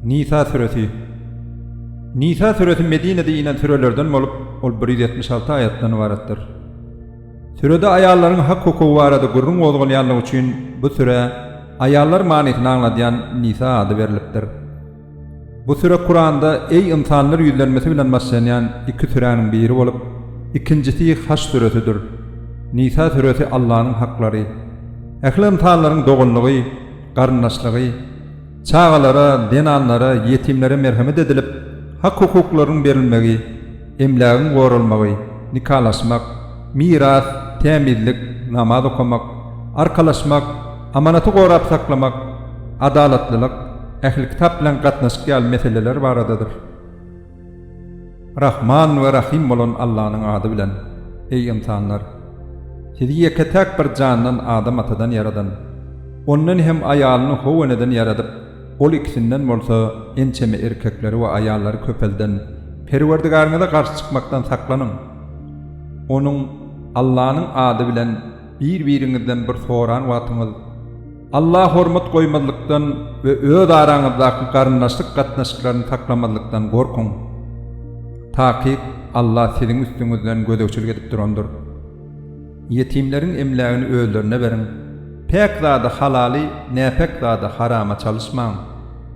Nisa süresi Nisa süresi Medinede inen sürelerden bolup, ol bir ýüz ýetmiş alty aýatdan ybaratdyr. Sürede aýallaryň hak-hukugy barada gürrüň gozgalýanlygy üçin bu sürä Aýallar manysyny aňladýan Nisa ady berlipdir. Bu süre Kuranda Eý, ynsanlar ýüzlenmesi bilen başlanýan iki süräniň biri bolup, ikinjisi Haş süresidir. Nisa süresi Allanyň haklary. Ähli ynsanlaryň doganlygy, garyndaşlygy, çagalara, zenanlara, ýetimlere merhemet edilip, hak-hukuklarynyň berilmegi. emlägiň goralmagy, nikalaşmak, miras, tämizlik, namaz okamak, arkalaşmak, amanaty gorap saklamak, adalatlylyk, ähli kitap bilen gatnaşyk ýaly meseleler baradadyr. Rahman we Rahym bolan Allanyň ady bilen, eý, ynsanlar! Sizi ýeke-täk bir jandan Adam atadan ýaradan. Ondan hem aýalyny howeneden ýaradyp, Ol ikisinden bolsa ençeme erkekleri we aýallary köpelden Perwerdigaryňyza garşy çykmakdan saklanyň. Onuň, Allanyň, ady bilen bir-biriňizden bir soran wagtyňyz, Alla hormat goýmazlykdan we öz araňyzdaky garyndaşlyk gatnaşyklaryny saklamazlykdan gorkuň. Takyk Alla siziň üstüňizden gözegçilik edip durandyr. Ýetimleriň emlägini özlerine beriň. Päk zady halaly, näpäk zady harama çalyşmaň.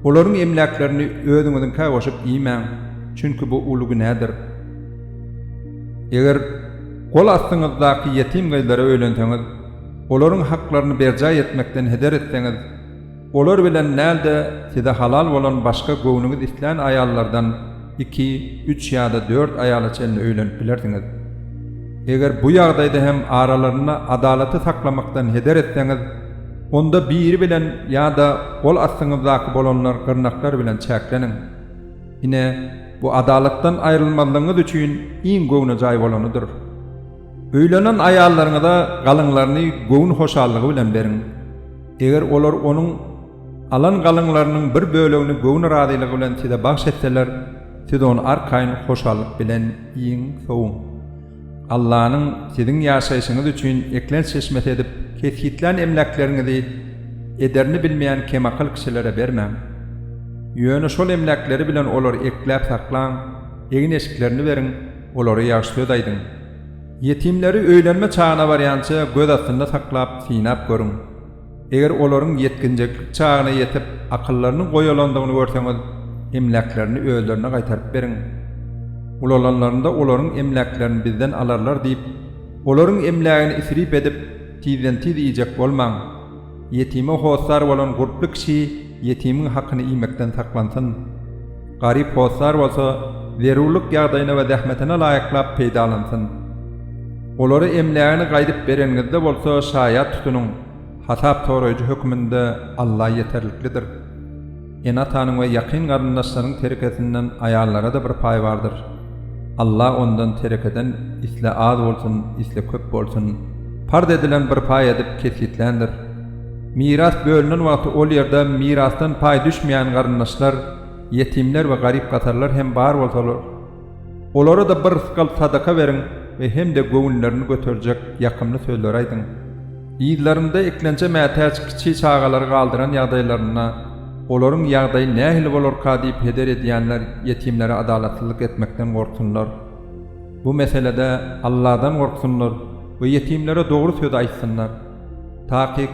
Olaryň emläklerini özüňiziňkä goşup iýmäň, çünki bu uly günädir. Eger gol astyňyzdaky ýetim gyzlara öýlenseňiz, olaryň haklaryny berjaý etmekden heder etseňiz, Olar bilen däl-de, size halal bolan başga göwnüňiz islän aýallardan iki, üç ýa-da dört aýala çenli öýlenip bilersiňiz. Eger bu ýagdaýda hem aralarynda adalaty saklamakdan heder etseňiz, onda biri bilen ýa-da gol astyňyzdaky bolanlar gyrnaklar bilen çäkleniň. Ine, bu adalatdan aýrylmazlygyňyz üçin iň göwnejaý bolanydyr. Öýlenen aýallaryňyza galyňlaryny göwün hoşallygy bilen beriň. Eger olar onuň alan galyňlarynyň bir bölegini göwün razylygy bilen size bagş etseler, siz ony arkaýyn hoşallyk bilen iýiň, sowuň. Allanyň siziň ýaşaýşyňyz üçin eklenç çeşmesi edip kesgitlän emläkleriňizi ederini bilmeýän kemakyl kişilere bermäň. Ýöne şol emläkleri bilen olary ekläp saklaň, egin-eşiklerini beriň, olara ýagşy söz aýdyň. Ýetimleri öýlenme çagyna barýança göz astynda saklap, synap görüň. Eger olaryň ýetginjeklik çagyna ýetip, akyllarynyň goýalandygyny görseňiz, emläklerini özlerine gaýtaryp beriň. Ulalanlarynda olaryň emläklerini bizden alarlar diýip, olaryň emlägini isrip edip, tizden-tiz iýjek bolmaň. Ýetime hossar bolan gurply kişi ýetimiň hakyny iýmekden saklansyn. Garyp hossar bolsa, zerurlyk ýagdaýyna we zähmetine laýyklap peýdalansyn. Olara emlägini gaýdyp bereniňizde bolsa şaýat tutunyň, hasap soraýjy hökmünde Alla ýeterliklidir. Ene-atanyň we ýakyn garyndaşlaryň terekesinden aýallara-da bir paý bardyr. Alla ondan terekeden isle az bolsun, isle köp bolsun, parz edilen bir paý edip kesgitländir. Miras bölünen wagty ol ýerde mirasdan paý düşmeýän garyndaşlar, ýetimler we garyp-gasarlar hem bar bolsalar, Olara-da bir rysgal sadaka beriň we hem-de göwünlerini göterjek ýakymly sözleri aýdyň. Yzlarynda eklençä mätäç kiçi çagalary galdyran ýagdaýlarynda, olaryň ýagdaýy nähili bolarka diýip heder edýänler ýetimlere adalatsyzlyk etmekden gorksunlar. Bu meselede Alladan gorksunlar we ýetimlere dogry sözi aýtsynlar. Takyk,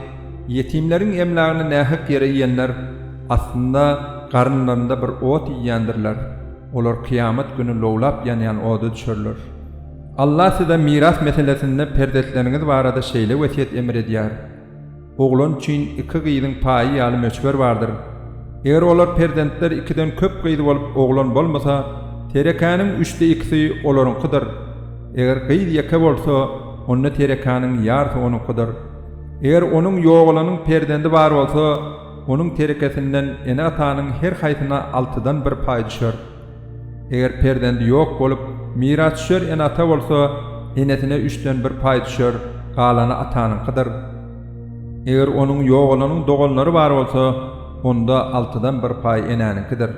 Ýetimleriň emlägini nähak ýere iýenler, aslynda, garynlarynda bir ot iýýändirler, olar kyýamat güni lowlap ýanýan oda düşerler. Alla size miras meselesinde perzetleriňiz barada şeýle wesýet emr edýär, Oglan üçin iki gyzyň paýy ýaly möçber bardyr. Eger olar, perzentler, ikiden köp gyz bolup, oglan bolmasa, terekäniň üçde ikisi olaryňkydyr. Eger gyz ýeke bolsa, onda terekanyň ýarsy onuňkydyr. Eger onuň ýogalanyň perzendi bar bolsa, onuň terekesinden ene-atanyň her haýsyna altydan bir paý düşer. Eger perzendi ýok bolup, mirasdüşer ene-ata bolsa, enesine üçden bir paý düşer, galany atanyňkydyr. Eger onuň ýogalanyň doganlary bar bolsa, onda altydan bir paý enäniňkidir.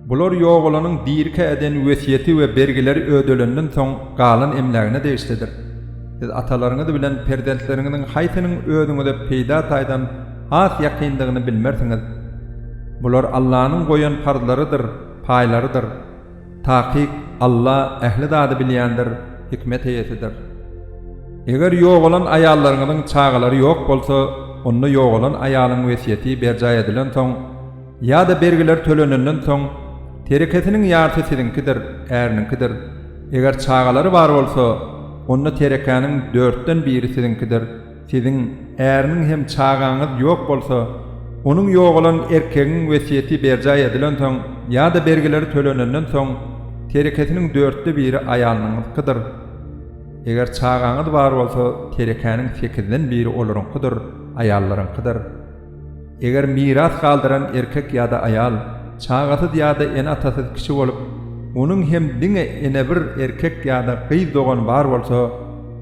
Bular ýogalanyň dirikä eden wesýeti we bergileri ödelenden soň galan emlägine degişlidir. Siz atalaryňyz bilen perzentleriňiziň haýsynyň özüňize peýda taýdan has ýakyndygyny bilmersiňiz. Bular Allanyň goýan parzlarydyr, paýlarydyr. Takyk, Alla ähli zady bilýändir, hikmet eýesidir. Eger ýogalan aýallaryňyzyň çagalary ýok bolsa, onda ýogalan aýalyň wesýeti berjaý edilen soň, Ýa-da bergiler tölenenden soň, terekesiniň ýarysy siziňkidir, äriniňkidir. Eger çagalary bar bolsa, onda terekäniň dörtden biri siziňkidir. Siziň, äriniň hem çagaňyz ýok bolsa, onuň ýogalan erkegiň wesýeti berjaý edilensoň ýa-da bergileri tölenenden soň, terekesiniň dörtde biri aýalynyňkydyr. Eger çagaňyz bar bolsa, terekäniň sekizden biri olaryňkydyr, aýallaryňkydyr. Eger miras galdyran erkek ýa-da aýal çagasyz ýa-da ene-atasyz kişi bolup, onuň hem diňe ene bir erkek ýa-da gyz dogany bar bolsa,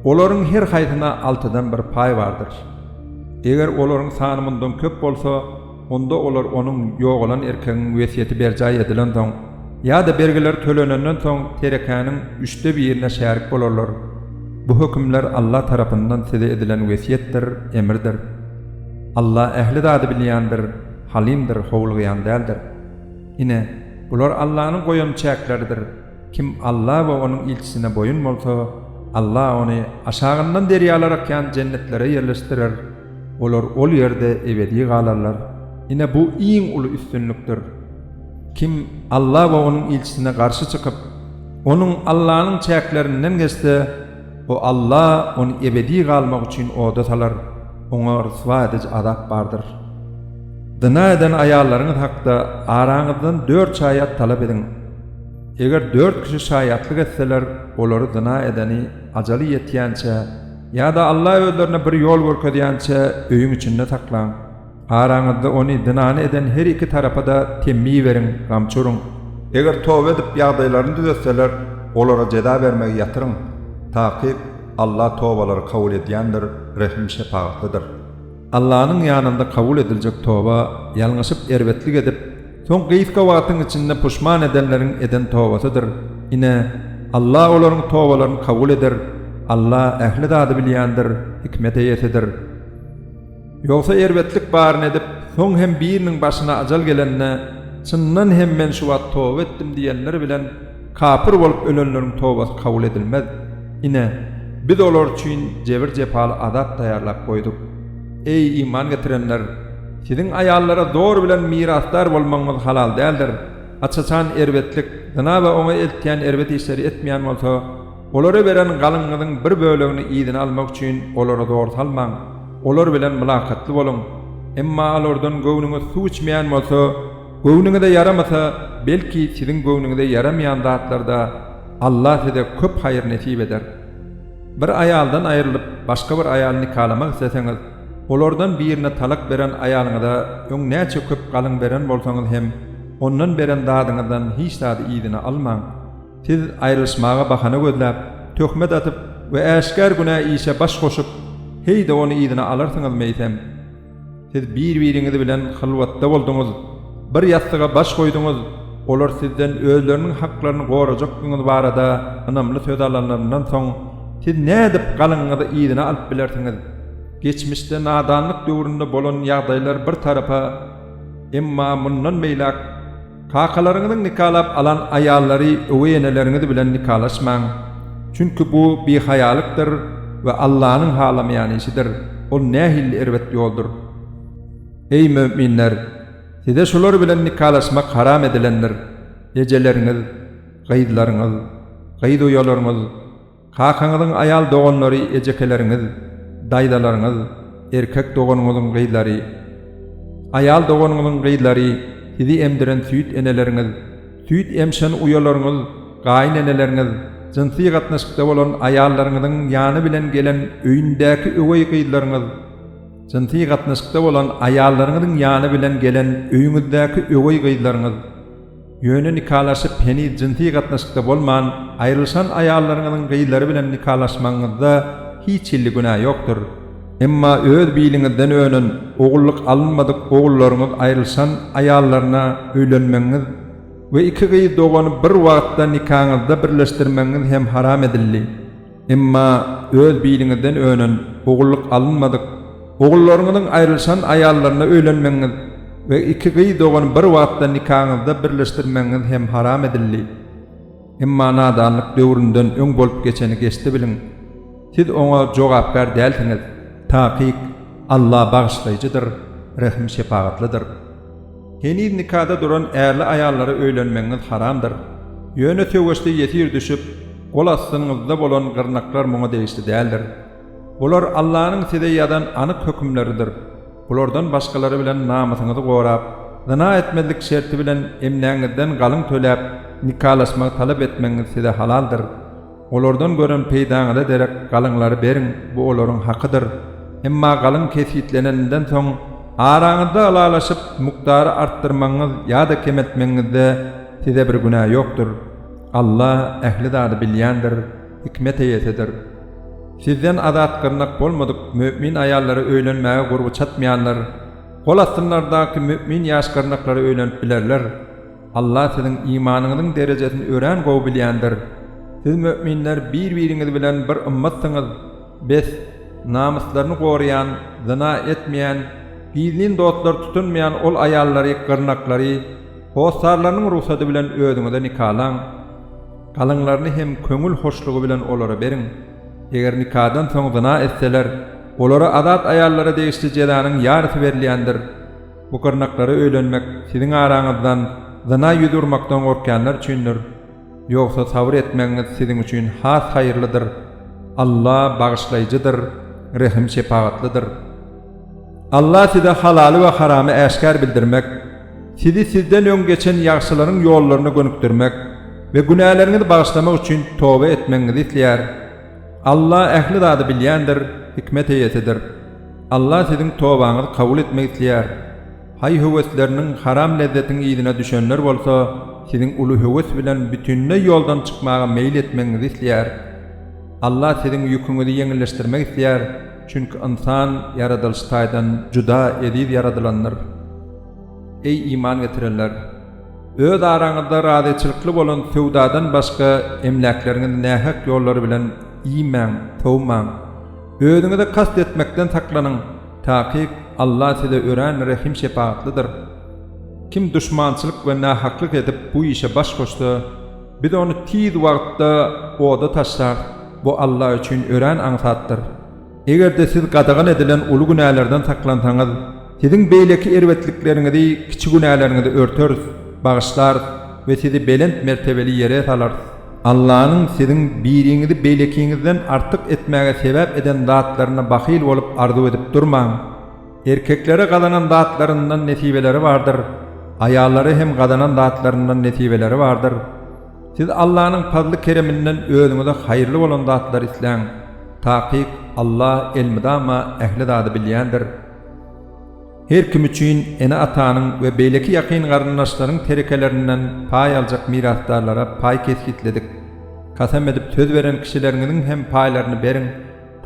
olaryň her haýsyna altydan bir paý bardyr. Eger olaryň sany mundan köp bolsa, onda olar onuň, ýogalan erkegiň, wesýeti berjaý edilensoň ýa-da bergiler tölenenden soň terekäniň üçde birine şärik bolarlar. Bu hökümler Alla tarapyndan size edilen wesýetdir, emirdir. Alla ähli zady bilýändir, Halymdyr, howlugýan däldir. Ine, bular Allanyň goýan çäkleridir. Kim Alla we Onuň ilçisine boýun bolsa, Alla ony aşagyndan derýalar akýan jennetlere ýerleşdirer, olar ol ýerde ebedi galarlar. Ine, bu iň uly üstünlikdir. Kim Alla we Onuň ilçisine garşy çykyp, Onuň, Allanyň, çäklerinden geçse, O Alla ony ebedi galmak üçin oda salar, oňa ryswa ediji azap bardyr. Zyna eden aýallaryňyz hakda araňyzdan dört şaýat talap ediň. Eger dört kişi şaýatlyk etseler, olary zyna edeni ajaly ýetýänçä ýa-da Alla özlerine bir ýol görkezýänçä öýüň içinde saklaň. Araňyzda ony zynany eden her iki tarapa-da temmi beriň, gamçy uruň. Eger toba edip, ýagdaýlaryny düzetseler, olara jeza bermegi ýatyryň. Takyk, Alla tobalary kabul edýändir, rehim-şepagatlydyr. Allanyň ýanynda kabul ediljek toba, ýalňyşyp, erbetlik edip, soň gysga wagtyň içinde puşman edenleriň eden tobasydyr. Ine, Alla olaryň tobalaryny kabul eder. Alla ähli zady bilýändir, hikmet eýesidir. Ýogsa erbetlik baryny edip, soň hem biriniň başyna ajal gelende, Çyndan hem men şu wagt toba etdim diýenler bilen kapyr bolup ölenleriň tobasy kabul edilmez. Ine, Biz olar üçin jebir-jepaly azap taýýarlap goýduk. Eý, iman getirenler! Siziň aýallara zor bilen mirasdar bolmagyňyz halal däldir. Aç-açan erbetlik, zyna we oňa eltýän erbet işleri etmeýän bolsa, Olara beren galyňyzyň bir bölegini yzyna almak üçin olara zor salmaň, olar bilen mylakatly boluň. Emma alardan göwnüňiz suw içmeýän bolsa, göwnüňize ýaramasa, belki, siziň göwnüňize ýaramaýan zatlarda Alla size köp haýyr nesip eder. Bir aýaldan aýrylyp, başga bir aýaly nikalamak isleseňiz, olardan birine talak beren aýalyňyza öň näçe köp galyň beren bolsaňyz hem, ondan beren zadyňyzdan hiç zady yzyna almaň. Siz aýrylyşmaga bahana gözläp, töhmet atyp we äşgär günä işe baş goşup, heý-de ony yzyna alarsyňyz meýsem. Siz bir-biriňiz bilen hylwatda bolduňyz, bir ýassyga baş goýduňyz, olar sizden özleriniň haklaryny gorajakdygyňyz barada ynamly söz alanlaryndan soň, siz nädip galyňyňyzy yzyna alyp bilersiňiz? Geçmişde nadanlyk döwründe bolan ýagdaýlar bir tarapa, emma mundan beýläk, Kakalaryňyzyň nikalap alan aýallary öweý eneleriňiz bilen nikalaşmaň, çünki bu bihaýalykdyr we Allanyň halamaýan işidir, ol nähili erbet ýoldur! Eý, möminler! Size şular bilen nikalaşmak haram edilendir, ejeleriňiz, gyzlaryňyz, gyz uýalaryňyz, Kakaňyzyň aýal doganlary ejekeleriňiz, daýzalaryňyz, erkek doganyňyzyň gyzlary, aýal doganyňyzyň gyzlary, sizi emdiren süýt eneleriňiz, süýt emşen uýalaryňyz, gaýyn eneleriňiz, jynsy gatnaşykda bolan aýallaryňyzyň ýany bilen gelen öýündäki öweý gyzlaryňyz, jynsy gatnaşykda bolan aýallaryňyzyň ýany bilen gelen öýüňizdäki öweý gyzlaryňyz. Ýöne nikalaşyp heniz jynsy gatnaşykda bolman aýrylyşan aýallaryňyzyň gyzlary bilen nikalaşmagyňyzda hiç hilli günä ýokdur. Emma öz biliňizden önen, ogullyk alynmadyk ogullaryňyz aýrylyşan aýallaryna öýlenmegiňiz we iki gyz dogany bir wagtda nikaňyzda birleşdirmegiňiz hem haram edildi. Emma öz biliňizden önen, ogullyk alynmadyk, ogullaryňyzyň aýrylyşan aýallaryna öýlenmegiňiz we iki gyz dogany bir wagtda nikaňyzda birleşdirmegiňiz hem haram edildi. Emma nadanlyk döwründen öň bolup geçeni geçdi biliň. Siz oňa jogapkär dälsiňiz. Takyk, Alla bagyşlaýjydyr, rehim-şepagatlydyr. Heniz nikada duran ärli aýallara öýlenmegiňiz haramdyr. Ýöne söweşde ýesir düşüp, gol astyňyzda bolan gyrnaklar muňa degişli däldir. Bular Allanyň size ýazan anyk hökümleridir. Bulardan başgalary bilen namysyňyzy gorap, zyna etmezlik şerti bilen emläňizden galyň töläp, nikalaşmagy talap etmegiňiz size halaldyr. Olardan gören peýdaňyza derek galyňlary beriň, bu olaryň hakydyr. Emma galyň kesgitleneninden soň, araňyzda ylalaşyp, mukdary artdyrmagyňyz ýa-da kemeltmegiňizde size bir günä ýokdur. Alla ähli zady bilýändir, hikmet eýesidir. Sizden azat gyrnak bolmadyk mümin aýallara öýlenmäge gurby çatmaýanlar, gol astynlardaky mümin ýaş gyrnaklara öýlenip bilerler. Allah siziň imanyňyzyň derejesini örän gowy bilýändir. Siz möminler bir-biriňiz bilen bir ymmatsyňyz. Bes, namyslaryny goraýan, zyna etmeýän, gizlin dostlar tutunmaýan ol aýallary, gyrnaklary, hossarlarynyň rugsady bilen özüňize nikalaň. Galyňlaryny hem köňül hoşlugy bilen olara beriň. Eger nikadan soň zyna etseler, olara azat aýallara degişli jezanyň ýarysy berilýändir. Bu gyrnaklara öýlenmek siziň araňyzdan zyna ýüz urmakdan gorkýanlar üçindir, ýogsa sabyr etmegiňiz siziň üçin has haýyrlydyr, Alla Bagyşlaýjydyr, Rehim-şepagatlydyr. Alla size halaly we haramy äşgär bildirmek, sizi sizden öň geçen ýagşylaryň ýollaryna gönükdirmek we günäleriňizi bagyşlamak üçin toba etmegiňizi isleýär. Alla ähli zady bilýändir, hikmet eýesidir. Allah siziň tobaňyzy kabul etmek isleýär. Haý höwesleriniň haram lezzetiň yzyna düşenler bolsa siziň uly höwes bilen bütinleý ýoldan çykmaga meýil etmegiňizi isleýär. Allah siziň ýüküňizi ýeňilleşdirmek isleýär, çünki ynsan ýaradylyş taýdan juda eziz ýaradylandyr. Eý iman getirenler! Öz araňyzda razyçylykly bolan söwdadan başga emläkleriňizi nähak ýollar bilen iýmäň, sowmaň. Özüňize kast etmekden saklanyň, takyk Alla size örän rehim-şepagatlydyr. Kim duşmançylyk we nähaklyk edip bu işe baş goşsa, Biz ony tiz wagtda oda taşlarys, bu Alla üçin örän aňsatdyr. Eger-de siz gadagan edilen uly günälerden saklansaňyz, siziň beýleki erbetlikleriňizi, kiçi günäleriňizi örteris, bagyşlarys we sizi belent mertebeli ýere salarys. Allanyň siziň biriňizi beýlekiňizden artyk etmäge sebäp eden zatlaryna bahyl bolup arzuw edip durmaň. Erkeklere gazanan zatlaryndan nesibeleri bardyr, aýallara hem gazanan zatlaryndan nesibeleri bardyr. Siz Allanyň pazly-kereminden özüňize haýyrly bolan zatlary isläň. Takyk, Alla elmydama ähli zady bilýändir. Her kim üçin ene-atanyň we beýleki ýakyn garyndaşlaryň terekelerinden paý aljak mirasdarlara paý kesgitledik. Kasam edip söz beren kişileriňiziň hem paýlaryny beriň,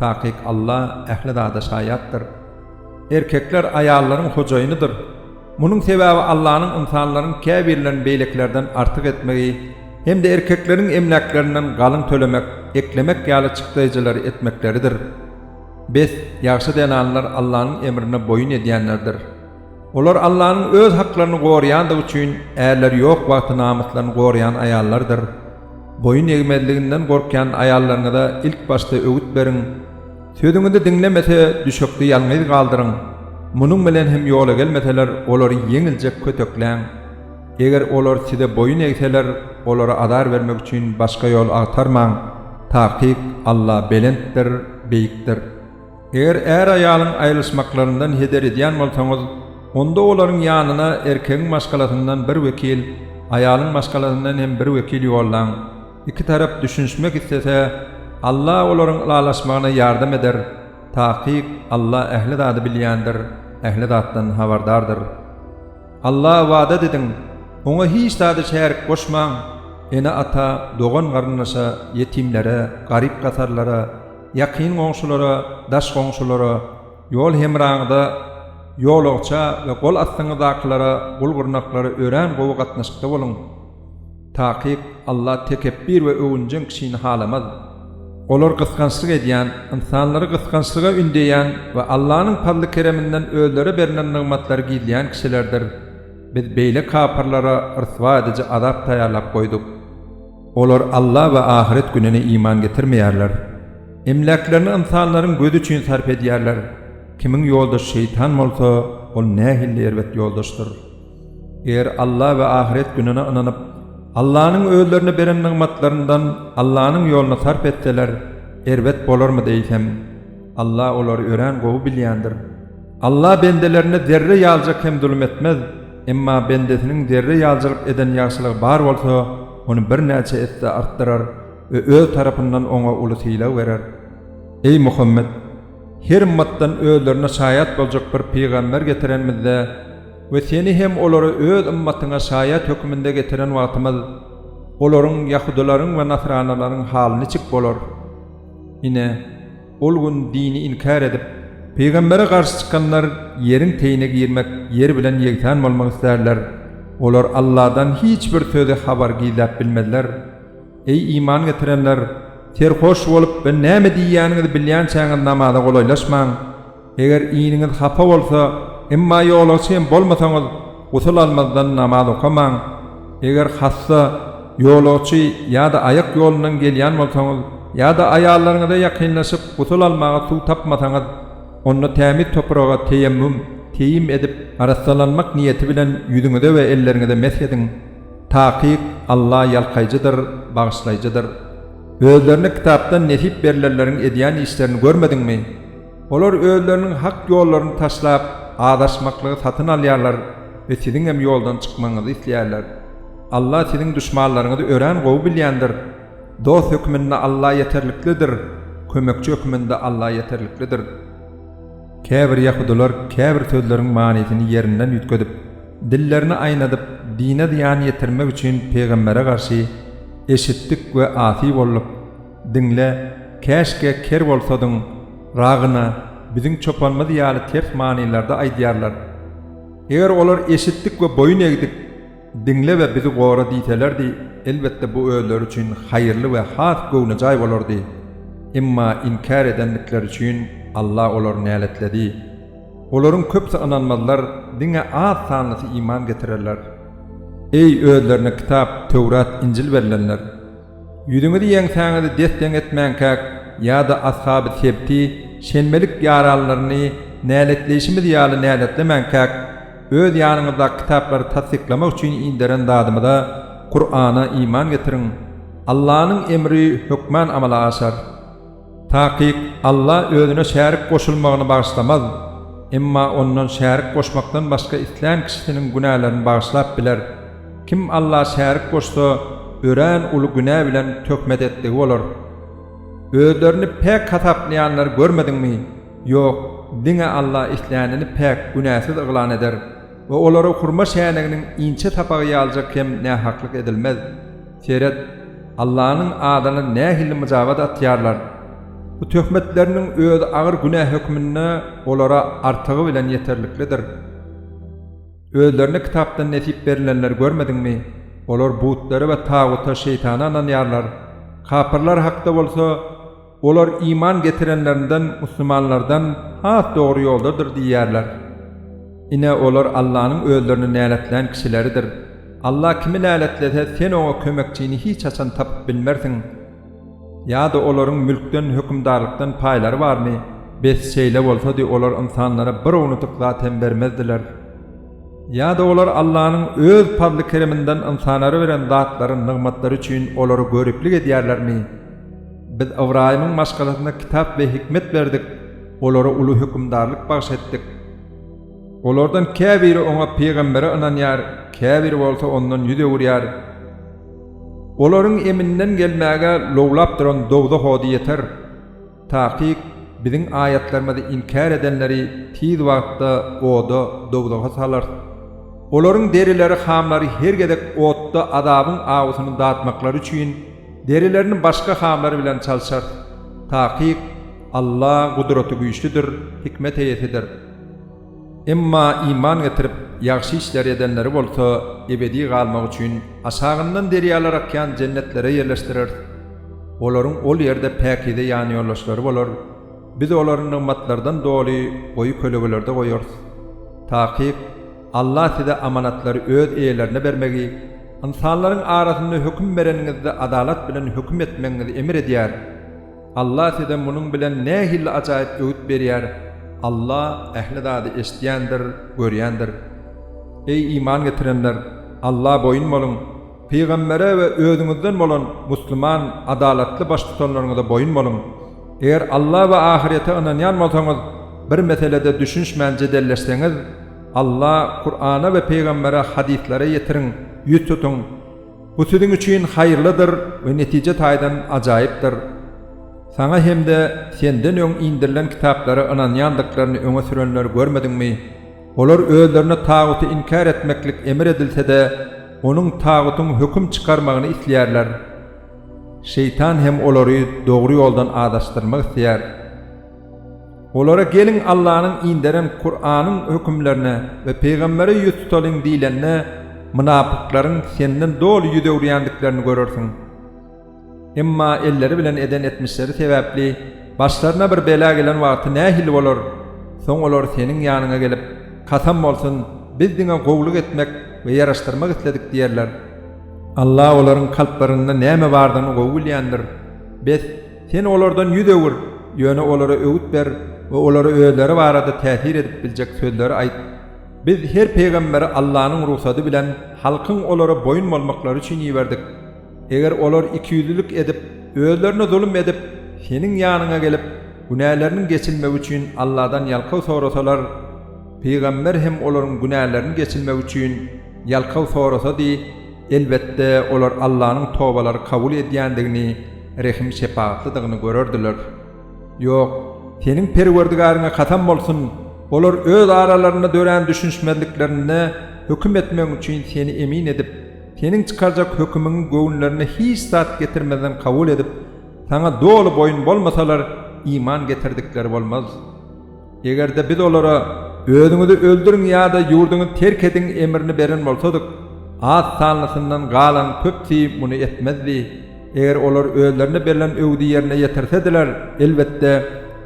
takyk Alla ähli zada şaýatdyr. Erkekler aýallaryň hojaýynydyr. Munuň sebäbi Allanyň ynsanlaryň käbirlerini beýlekilerden artyk etmegi hem-de erkekleriň emläklerinden galyň tölemek, eklemek ýaly çykdaýjylary etmekleridir. Bes, ýagşy zenanlar Allanyň emrine boýun edýänlerdir. Olar Allanyň öz haklaryny goraýandygy üçin ärleri ýok wagty namyslaryny goraýan aýallardyr. Boýun egmezliginden gorkýan aýallaryňyza ilk başda öwüt beriň, sözüňizi diňlemese, düşekde ýalňyz galdyryň, munuň bilen hem ýola gelmeseler, olary ýeňiljek kötekläň. Eger olar size boýun egseler, olara azar bermek üçin başga ýol agtarmaň. Takyk Alla belentdir, beýikdir. Eger är-aýalyň aýrylyşmaklaryndan heder edýän bolsaňyz, onda olaryň ýanyna erkegiň maşgalasyndan bir wekil, aýalyň maşgalasyndan hem bir wekil ýollaň. Iki tarap düşünişmek islese, Alla olaryň ylalaşmagyna ýardam eder. Takyk Alla ähli zady bilýändir, ähli zatdan habardardyr. Alla ybadat ediň, Oňa hiç zady şärik goşmaň, ene-ata, dogan-garyndaşa, ýetimlere, garyp-gasarlara, ýakyn goňşulara, daş goňşulara, ýol hemraňyza, ýolagça we gol astyňyzdakylara, gul-gyrnaklara örän gowy gatnaşykda boluň. Takyk, Alla tekepbir we öwünjeň kişini halamaz. Olar gysgançlyk edýän, ynsanlary gysgançlyga ündeýän we Allanyň pazly-kereminden özlerä berlen nygmatlary gizleýän kişilerdir. Biz beýle kapyrlara ryswa ediji azap taýýarlap goýduk. Olar Alla we ahyret gününe iman getirmeýärler. Emläklerini ynsanlaryň gözi üçin sarp edýärler. Kimiň ýoldaşy şeýtan bolsa, ol nähili erbet ýoldaşdyr! Eger Alla we ahyret gününe ynanyp, Allanyň özlerine beren nygmatlaryndan Allanyň ýoluna sarp etseler, erbet bolarmy diýsem, Alla olary örän gowy bilýändir. Alla bendelerine zerre ýalyjak hem zulum etmez, emma bendesiniň zerre ýalyjylyk eden ýagşylygy bar bolsa, ony birnäçe esse artdyrar we Öz tarapyndan oňa uly sylag berer. Eý Muhammet! Her ymmatdan özlerine şaýat boljak bir pygamber getirenimizde, We seni hem olary Öz ymmatyňa şaýat höküminde getiren wagtymyz, olaryň, ýahudylaryň we nasranylaryň, haly niçik bolar? Ine, ol gün dini inkär edip, pygambere garşy çykanlar ýeriň teýine girmek, ýer bilen ýegsan bolmak isterler, olar Allahdan hiç bir sözi, habary gizläp bilmezler. Eý, iman getirenler! Serhoş bolup we näme diýýäniňizi bilýänçäňiz namaza golaýlaşmaň. Eger iniňiz hapa bolsa, emma ýolagçy hem bolmasaňyz, gusul almazdan namaz okamaň. Eger hassa, ýolagçy ýa-da aýak ýolundan gelýän bolsaňyz ýa-da aýallaryňyza ýakynlaşyp gusul almaga suw tapmasaňyz, onda tämiz topraga teýemmüm, teýim, edip, arassalanmak niýeti bilen ýüzüňize we elleriňize mesh ediň. Takyk Alla ýalkaýjydyr, bagyşlaýjydyr. Özlerine kitapdan nesip berlenleriň edýän işlerini görmediňmi? Olar özleriniň hak ýollaryny taşlap, azaşmaklygy satyn alýarlar we siziňem ýoldan çykmagyňyzy isleýärler. Alla siziň duşmanlaryňyzy örän gowy bilýändir. Dost hökmünde Alla ýeterliklidir, kömekçi hökmünde Alla ýeterliklidir. Käbir ýahudylar käbir sözleriň manysyny ýerinden üýtgedip, dillerini aýnadyp, dine zyýan ýetirmek üçin pygambere garşy eşitdik we asy bolduk. Diňle, käşgä ker bolsadyň, Ragyna, biziň çopanymyz ýaly ters manylarda aýdýarlar. Eger olar eşitdik we boýun egdik, diňle we bizi gora diýselerdi, elbetde bu özleri üçin haýyrly we has göwnejaý bolardy. Emma inkär edendikleri üçin Alla olary näletledi. Olaryň köpüsi ynanmazlar, diňe az sanlysy iman getirerler. Eý, özlerine kitap, Töwrat, Injil berilenler! Ýüzüňizi ýeňsäňizi des-deň etmänkäk ýa-da ashaby sebti, şenbelik ýaranlaryny näletleýşimiz ýaly näletlemänkäk, öz ýanyňyzdaky kitaplary tassyklamak üçin inderen Zadymyza, Kur'ana, iman getiriň. Allanyň emri hökmän amala aşar. Takyk, Alla özüne şärik goşulmagyny bagyşlamaz, emma Ondan şärik goşmakdan başga islän kişisiniň günälerini bagyşlap biler. Kim Alla şärik goşsa, örän uly günä bilen töhmet etdigi bolar. Özlerini päk hasaplaýanlary görmediňmi? Ýok, diňe Alla islänini päk, günäsiz yglan eder we olara hurma şäniginiň inçe sapagy ýalyjak hem nähaklyk edilmez. Seret, Allanyň adyna nähili myjabat atýarlar. Bu töhmetleriniň özi agyr günä hökmünde olara artygy bilen ýeterliklidir. Özlerine kitapdan nesip berilenleri görmediňmi? Olar butlara we taguta, şeýtana ynanýarlar. Kapyrlar hakda bolsa. Olar iman getirenlerinden, musulmanlardan, has dogry ýoldadyr diýýärler. Ine, olar Allanyň özlerini näletlän kişileridir. Alla kimi näletlese, sen oňa kömekçini hiç haçan tapyp bilmersiň. Ýa-da olaryň mülkden, hökümdarlykdan paýlary barmy? Bes, şeýle bolsady, olar ynsanlara bir ownadyk zat hem bermezdiler. Ýa-da olar Allanyň Öz pazly-kereminden ynsanara beren zatlary, nygmatlary üçin olary göriplik edýärlermi? Biz Ybraýymyň maşgalasyna kitap we hikmet berdik, olara uly hökümdarlyk bagyş etdik. Olardan käbiri oňa pygambere ynanýar, käbiri bolsa ondan ýüz öwürýär. Olaryň eminden gelmäge lowlap duran dowzah ody ýeter. Takyk, Biziň aýatlarymyzy inkär edenleri tiz wagtda oda, dowzaha, salarys. Olaryň derileri, hamlary her gezek otda azabyň awusyny datmaklary üçin, Derilerini başga hamlar bilen çalşarys. Takyk, Alla Gudratygüýçlüdir, Hikmet eýesidir. Emma iman getirip, ýagşy işleri edenleri bolsa ebedi galmak üçin aşagyndan derýalar akýan jennetlere ýerleşdireris. Olaryň ol ýerde päkize ýanýoldaşlary bolar. Biz olary nygmatlardan doly goýy kölegelerde goýarys. Takyk. Allah size amanatlary öz eýelerine bermegi, ynsanlaryň arasynda höküm bereniňizde adalat bilen höküm etmegiňizi emr edýär. Allah size munuň bilen nähili ajaýyp öwüt berýär, Allah ähli zady eşidýändir, görýändir. Eý iman getirenler! Alla boýun boluň! Pygambere we özüňizden bolan musluman adalatly baştutanlaryňyza boýun boluň. Eger Alla we ahyrete ynanýan bolsaňyz, bir meselede düşünişmän jedelleşseňiz, Alla, Kurana we pygambere, hadyslara, ýetiriň, ýüz tutuň. Bu siziň üçin haýyrlydyr we netije taýdan ajaýypdyr. Saňa hem-de Senden öň indirilen kitaplary ynanýandyklaryny öňe sürenleri görmediňmi? Olar özlerine taguty inkär etmeklik emr edilse-de, onuň, tagutyň, höküm çykarmagyny isleýärler. Şeýtan hem olary dogry ýoldan azaşdyrmak isleýär. Olara geliň Allanyň inderen Kuranyň hökümlerine we pygambere ýüz tutalyň diýlende, mynapyklaryň senden doly ýüz öwürýändiklerini görersiň. Emma elleri bilen eden etmişleri sebäpli başlaryna bir bela gelen wagty nähili bolar? Soň olar seniň ýanyňa gelip, Kasam bolsun, biz diňe gowulyk etmek we ýaraşdyrmak isledik diýerler. Alla olaryň kalplarynda näme bardygyny gowy bilýändir. Bes, sen olardan ýüz öwür, ýöne olara öwüt ber we olara özleri barada täsir edip biljek sözleri aýt. Biz her pygamberi Allanyň rugsady bilen halkyň olara boýun bolmaklary üçin iberdik. Eger olar ikiýüzlülik edip, özlerine zulum edip, seniň ýanyňa gelip, günäleriniň geçilmegi üçin Alladan ýalkaw sorasalar, pygamber hem olaryň günälerini geçilmegi üçin ýalkaw sorasady, elbetde, olar Allanyň tobalary kabul edýändigini, rehim-şepagatlydygyny görerdiler. Ýok, seniň Perwerdigäriňe kasam bolsun, olar öz aralarynda dörän düşünişmezliklerinde höküm etmegiň üçin seni emin edip, Seniň çykarjak hökümiňi göwünlerine hiç zat getirmezden kabul edip, Saňa doly boýun bolmasalar, iman getirdikleri bolmaz. Eger-de biz olara, Özüňizi öldüriň ýa-da ýurduňyzy terk ediň emrini beren bolsadyk, az sanlysyndan galan köpüsi muny etmezdi. Eger olar özlerine berlen öwüdi ýerine ýetirse-diler, elbetde,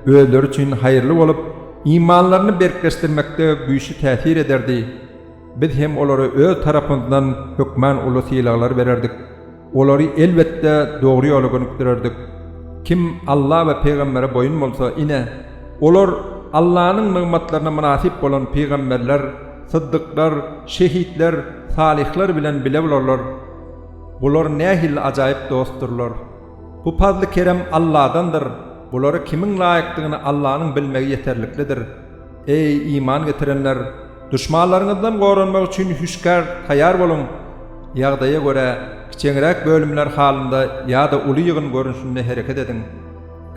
özleri üçin haýyrly bolup, imanlaryny berkleşdirmekde güýçli täsir ederdi. Biz hem olara öz tarapymyzdan hökman uly sylaglar bererdik. Olary, elbetde, dogry ýola gönükdirerdik. Kim Alla we pygambere boýun bolsa, ine, olar Allanyň nygmatlaryna mynasyp bolan pygamberler, syddyklar, şehitler, salyhlar bilen bile bolarlar. Bular nähili ajaýyp dostdurlar! Bu pazly-kerem Alladandyr, bulara kimiň laýykdygyny Allanyň bilmegi ýeterliklidir. Eý, iman getirenler! Duşmanlaryňyzdan goranmak üçin hüşgär taýýar boluň! Ýagdaýa görä, kiçeňräk bölümler halynda ýa-da uly ýygyn görnüşinde hereket ediň.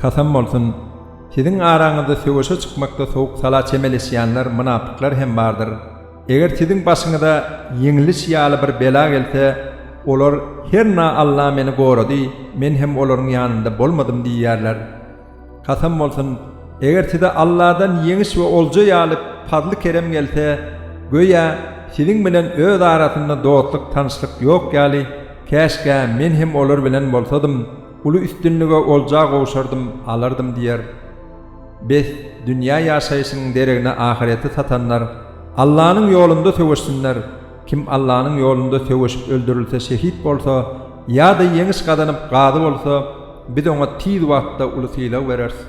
Kasam bolsun, siziň araňyzda söweşe çykmakda sowuk-sala çemeleşýänler, mynapyklar hem bardyr. Eger siziň başyňyza ýeňiliş ýaly bir bela gelse, olar, Herna Alla meni gorady, men hem olaryň ýanynda bolmadym diýerler. Kasam bolsun, eger size Alladan ýeňiş we olja ýaly pazly-kerem gelse, göýä, siziň bilen öz arasynda dostluk-tanyşlyk ýok ýaly, käşgä, men hem olar bilen bolsadym, uly üstünlige, olja gowşardym, alardym diýer. Bes, dünýä ýaşaýşynyň deregine ahyreti satanlar, Allanyň ýolunda söweşsinler! Kim Allanyň ýolunda söweşip öldürilse şehit bolsa, ýa-da ýeňiş gazanyp gazy bolsa, biz oňa tiz wagtda uly sylag bereris.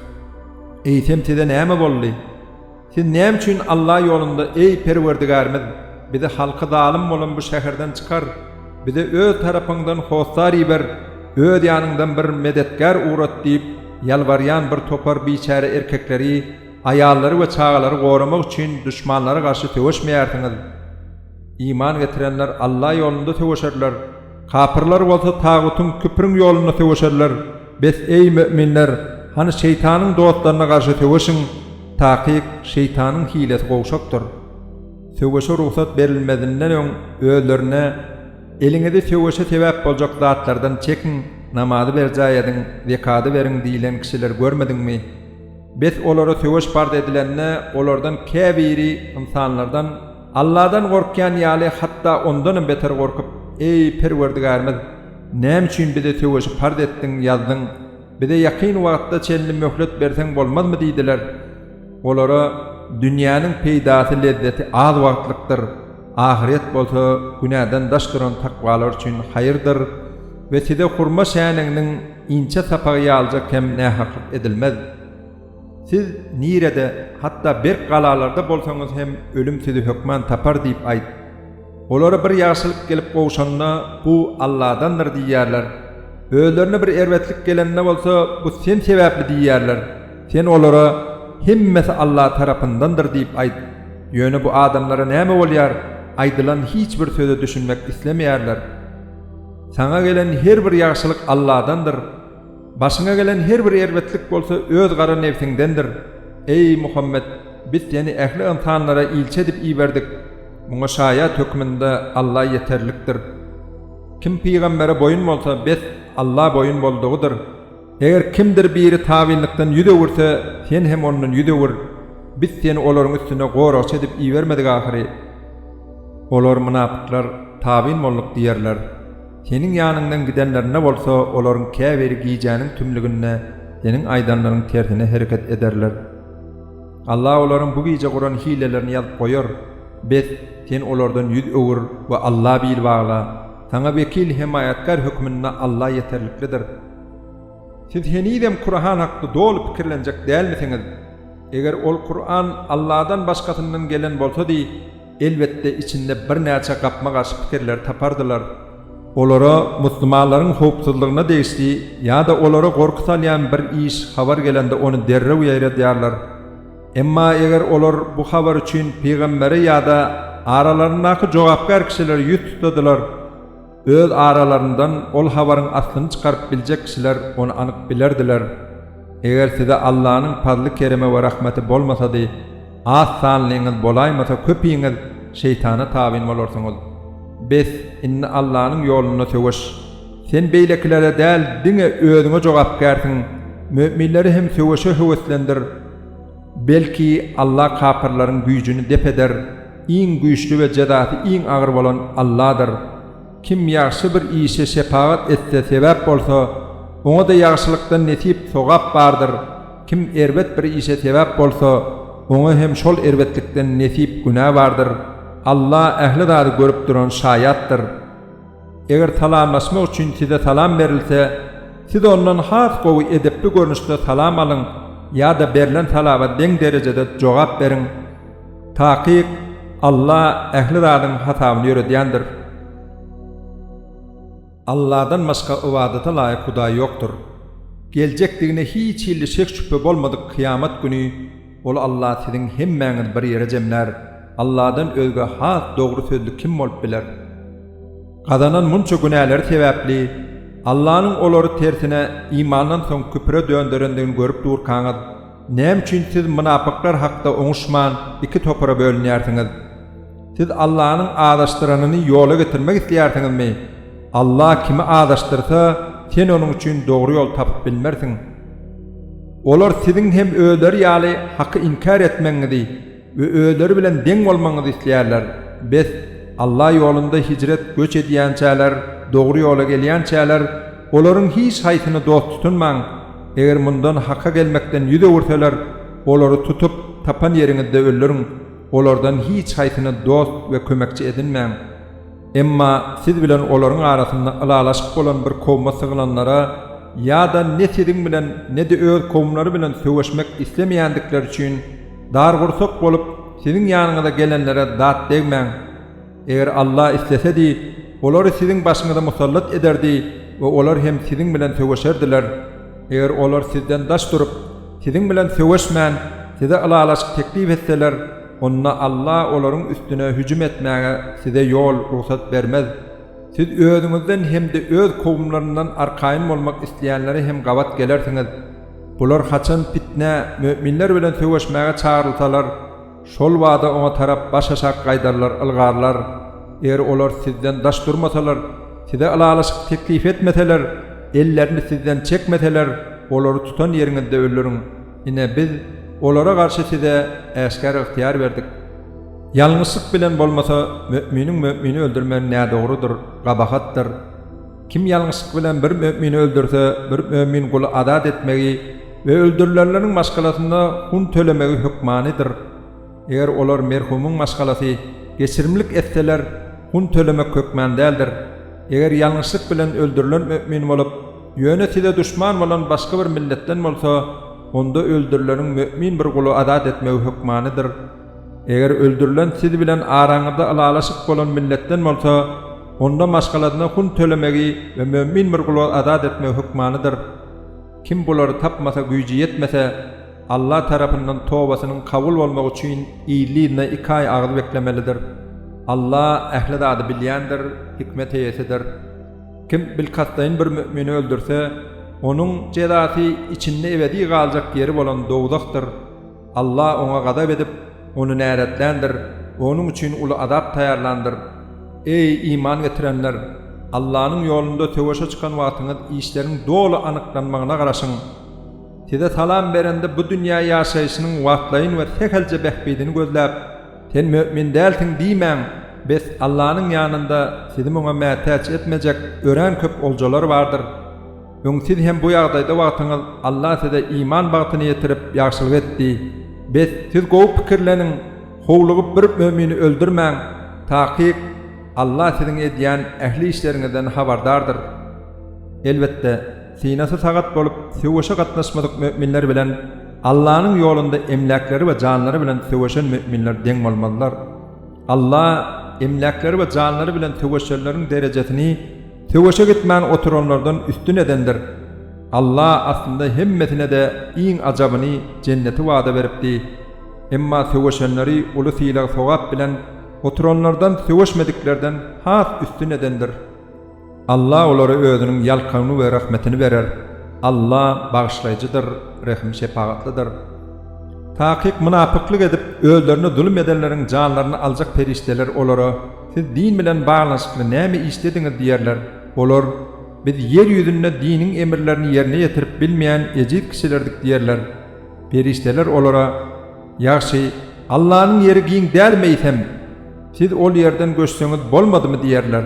Eýsem size näme boldy? Siz näme üçin Alla ýolunda, Eý, Perwerdigärimiz, bizi halky zalym bolan bu şäherden çykar, bize Öz tarapyňdan hossar iber, Öz ýanyňdan bir medetgär ugrat diýip, ýalbarýan bir topar biçäre erkekleri Aýallary we çagalary goramak üçin duşmanlara garşy söweşmeýärsiňiz. Iman getirenler Alla ýolunda söweşerler, kapyrlar bolsa tagutyň, küpriň ýolunda söweşerler. Bes, eý, möminler, hany şeýtanyň dostlaryna garşy söweşiň, takyk, şeýtanyň hilesi gowşakdyr. Söweşe rugsat berilmezinden öň özlerine, Eliňizi söweşe sebäp boljak zatlardan çekiň, namazy berjaý ediň, zekady beriň diýlen kişileri görmediňmi? Bes olara söweş parz edilende, olardan käbiri ynsanlardan, Alladan gorkýan ýaly, hatda ondanam beter gorkup, Eý, Perwerdigärimiz! Näme üçin bize söweşi parz etdiň, ýazdyň? Bize ýakyn wagta çenli möhlet berseň bolmazmy? diýdiler. Olara, Dünýäniň peýdasy, lezzeti az wagtlykdyr, ahyret bolsa günäden daş duran takwalar üçin haýyrdyr we size hurma şäniginiň, Inçe sapagy ýalyjak hem nähaklyk edilmez. Siz nirede, hatda berk galalarda bolsaňyz hem ölüm sizi hökman tapar diýip aýt. Olara bir ýagşylyk gelip gowşanda, bu Alladandyr diýerler. Özlerine bir erbetlik gelende bolsa, bu sen sebäpli diýerler. Sen olara, Hemmesi Alla tarapyndandyr diýip aýt. Ýöne bu adamlara näme bolýar? Aýdylan hiç bir söze düşünmek islemeýärler. Saňa gelen her bir ýagşylyk Alladandyr. Başyňa gelen her bir erbetlik bolsa öz gara nebsiňdendir. Eý, Muhammet! Biz seni ähli ynsanlara ilçi edip iberdik. Muňa şaýat hökmünde Alla ýeterlikdir. Kim pygambere boýun bolsa, bes, Alla boýun boldugydyr. Eger kimdir biri tabynlykdan ýüz öwürse, sen hem ondan ýüz öwür, biz seni olaryň üstüne goragçy edip ibermedik ahyry. Olar, mynapyklar, tabyn bolduk diýerler. Seniň ýanyňdan gidenlerinde bolsa, olaryň käbiri gijäniň tümlüginde seniň aýdanlaryň tersine hereket ederler. Allah olaryň bu gije guran hilelerini ýazyp goýar. Bes, sen olardan ýüz öwür we Alla bil bagla. Saňa wekil, hemaýatkär hökmünde Allah ýeterliklidir. Siz henizem Kurahan hakda doly pikirlenjek dälmisiňiz? Eger ol Kuran Alladan başgasyndan gelen bolsady, elbetde içinde birnäçe gapma-garşy pikirleri tapardylar. Olara musulmanlaryň howpsuzlygyna degişli ýa-da olara gorky salýan bir iş habar gelende ony derrew ýaýradýarlar. Emma eger olar bu habar üçin pygambere ýa-da aralaryndaky jogapkär kişilere ýüz tutadylar, Öz aralaryndan ol habaryň aslyny çykaryp biljek kişiler ony anyk bilerdiler. Eger size Allanyň pazly-keremi we rahmeti bolmasady, az sanlyňyz bolaýmasa köpiňiz şeýtana tabyn bolarsyňyz. Bes, indi Allanyň ýolunda söweş. Sen beýlekilere däl, diňe özüňe jogapkärsiň. Möminleri hem söweşe höweslendir. Belki, Alla kapyrlaryň güýjüni dep eder, iň güýçli we jezasy iň agyr bolan Alladyr. Kim ýagşy bir işe şepagat etse, sebäp bolsa, oňa-da ýagşylykdan nesip, sogap, bardyr, kim erbet bir işe sebäp bolsa, oňa hem şol erbetlikden nesip, günä, bardyr. Alla ähli zady görüp duran Şaýatdyr. Eger salamlaşmak üçin size salam berilse, siz ondan has gowy edepli görnüşde salam alyň ýa-da berlen salaba deň derejede jogap beriň. Takyk, Alla ähli zadyň hasabyny ýöredýändir. Alladan başga ybadata laýyk hudaý ýokdur. Geljekdigine hiç hilli şek-şübhe bolmadyk kyýamat güni, Ol Alla siziň hemmäňiz bir ýere jemlär. Alladan özge has dogry sözli kim bolup biler? Gazanan munça günäleri sebäpli Allanyň olary tersine imandan soň küpre dönderendigini görüp durkaňyz, näme üçin siz mynapyklar hakda oňuşman iki topara bölünýärsiňiz? Siz Allanyň azaşdyranyny ýola getirmek isleýärsiňizmi? Alla kimi azaşdyrsa, sen onuň üçin dogry ýol tapyp bilmersiň. Olar siziň hem özleri ýaly haky inkär etmegiňizi we özleri bilen deň bolmagyňyzy isleýärler. Bes, Alla ýolunda hijret, göç edýänçäler, dogry ýola gelýänçäler, olaryň hiç haýsyny dost tutunmaň. Eger mundan, Haka gelmekden, ýüz öwürseler, olary tutup, tapan ýeriňizde öldüriň. Olardan hiç haýsyny dost we kömekçi edinmäň. Emma siz bilen olaryň arasynda ylalaşyk bolan bir kowuma sygylanlara ýa-da ne siziň bilen, ne-de öz kowumlary bilen söweşmek islemeýändikleri üçin dargursak bolup, siziň ýanyňyza gelenlere dat degmäň. Eger Alla islesedi, olary siziň başyňyza musallat ederdi we olar hem siziň bilen söweşerdiler. Eger olar sizden daş durup, siziň bilen söweşmän, size ylalaşyk teklip etseler, onda Alla olaryň üstüne hüjüm etmäge size ýol, rugsat, bermez. Siz özüňizden hem-de öz kowumlaryndan arkaýyn bolmak isleýänlere hem gabat gelersiňiz. Bular haçan pitnä, möminler bilen söweşmäge çagyrylsalar, şol bada oňa tarap başaşak gaýdarlar, ylgarlar. Eger olar sizden daş durmasalar, size ylalaşyk teklip etmeseler, ellerini sizden çekmeseler, olary tutan ýeriňizde öldüriň. Ine, biz olara garşy size äşgär ygtyýar berdik. Ýalňyşlyk bilen bolmasa, möminiň mömini öldürmegi nädogrudyr, gabahatdyr. Kim ýalňyşlyk bilen bir mömini öldürse, bir mömin guly azat etmegi we öldürilenleriň maşgalasyna hun tölemegi hökmanydyr. Eger olar merhumyň maşgalasy geçirimlik etseler, hun tölemek hökman däldir. Eger ýalňyşlyk bilen öldürilen mümin bolup, ýöne size duşman bolan başga bir milletden bolsa, onda öldürileniň mümin bir guly azat etmegi hökmanydyr. Eger öldürilen siz bilen araňyzda ylalaşyk bolan milletden bolsa, onda maşgalasyna hun tölemegi we mümin bir guly azat etmegi hökmanydyr. Kim bulary tapmasa, güýji ýetmese, Alla tarapyndan tobasynyň kabul bolmagy üçin ýyl-ýylyna iki aý agyz beklemelidir. Alla ähli zady bilýändir, hikmet eýesidir. Kim bilkastlaýyn bir mümini öldürse, onuň jezasy içinde ebedi galjak ýeri bolan dowzahdyr. Alla oňa gazap edip, ony näletländir, onuň üçin uly azap taýýarlandyr. Eý, iman getirenler! Allanyň ýolunda söweşe çykan wagtyňyz işleriň doly anyklanmagyna garaşyň. Size salam berende bu dünýä ýaşaýşynyň wagtlaýyn we sähelçe bähbidini gözläp, Sen mömin dälsiň diýmäň, bes, Allanyň ýanynda sizi muňa mätäç etmejek örän köp oljalar bardyr. Öň siz hem bu ýagdaýda wagtyňyz Alla size iman bagtyny ýetirip, ýagşylyk etdi. Bes, siz gowy pikirleniň, howlugyp bir mömini öldürmäň, takyk, Alla siziň edýän ähli işleriňizden habardardyr. Elbetde! Synasy sagat bolup, söweşe gatnaşmadyk müminler bilen Allanyň ýolunda emläkleri we janlary bilen söweşen müminler deň bolmazlar. Alla emläkleri we janlary bilen söweşenleriň derejesini söweşe gitmän oturanlardan üstün edendir. Alla aslynda hemmesine-de iň ajabyny, jenneti wada beripdi. Emma söweşenleri uly sylag-sogap bilen oturanlardan söweşmediklerden has üstün edendir. Alla olara Özüniň ýalkawyny we rahmetini berer. Alla Bagyşlaýjydyr, Rehim-şepagatlydyr. Takyk mynapyklyk edip, özlerine zulum edenleriň janlaryny aljak perişdeler olara, Siz din bilen baglanyşykly näme işlediňiz? diýerler. Olar, Biz ýer ýüzünde diniň emirlerini ýerine ýetirip bilmeýän ejiz kişilerdik diýerler. Perişdeler olara, Ýagşy, Allanyň ýeri giň dälmi eýsem? Siz ol ýerden göçseňiz bolmadymy? diýerler.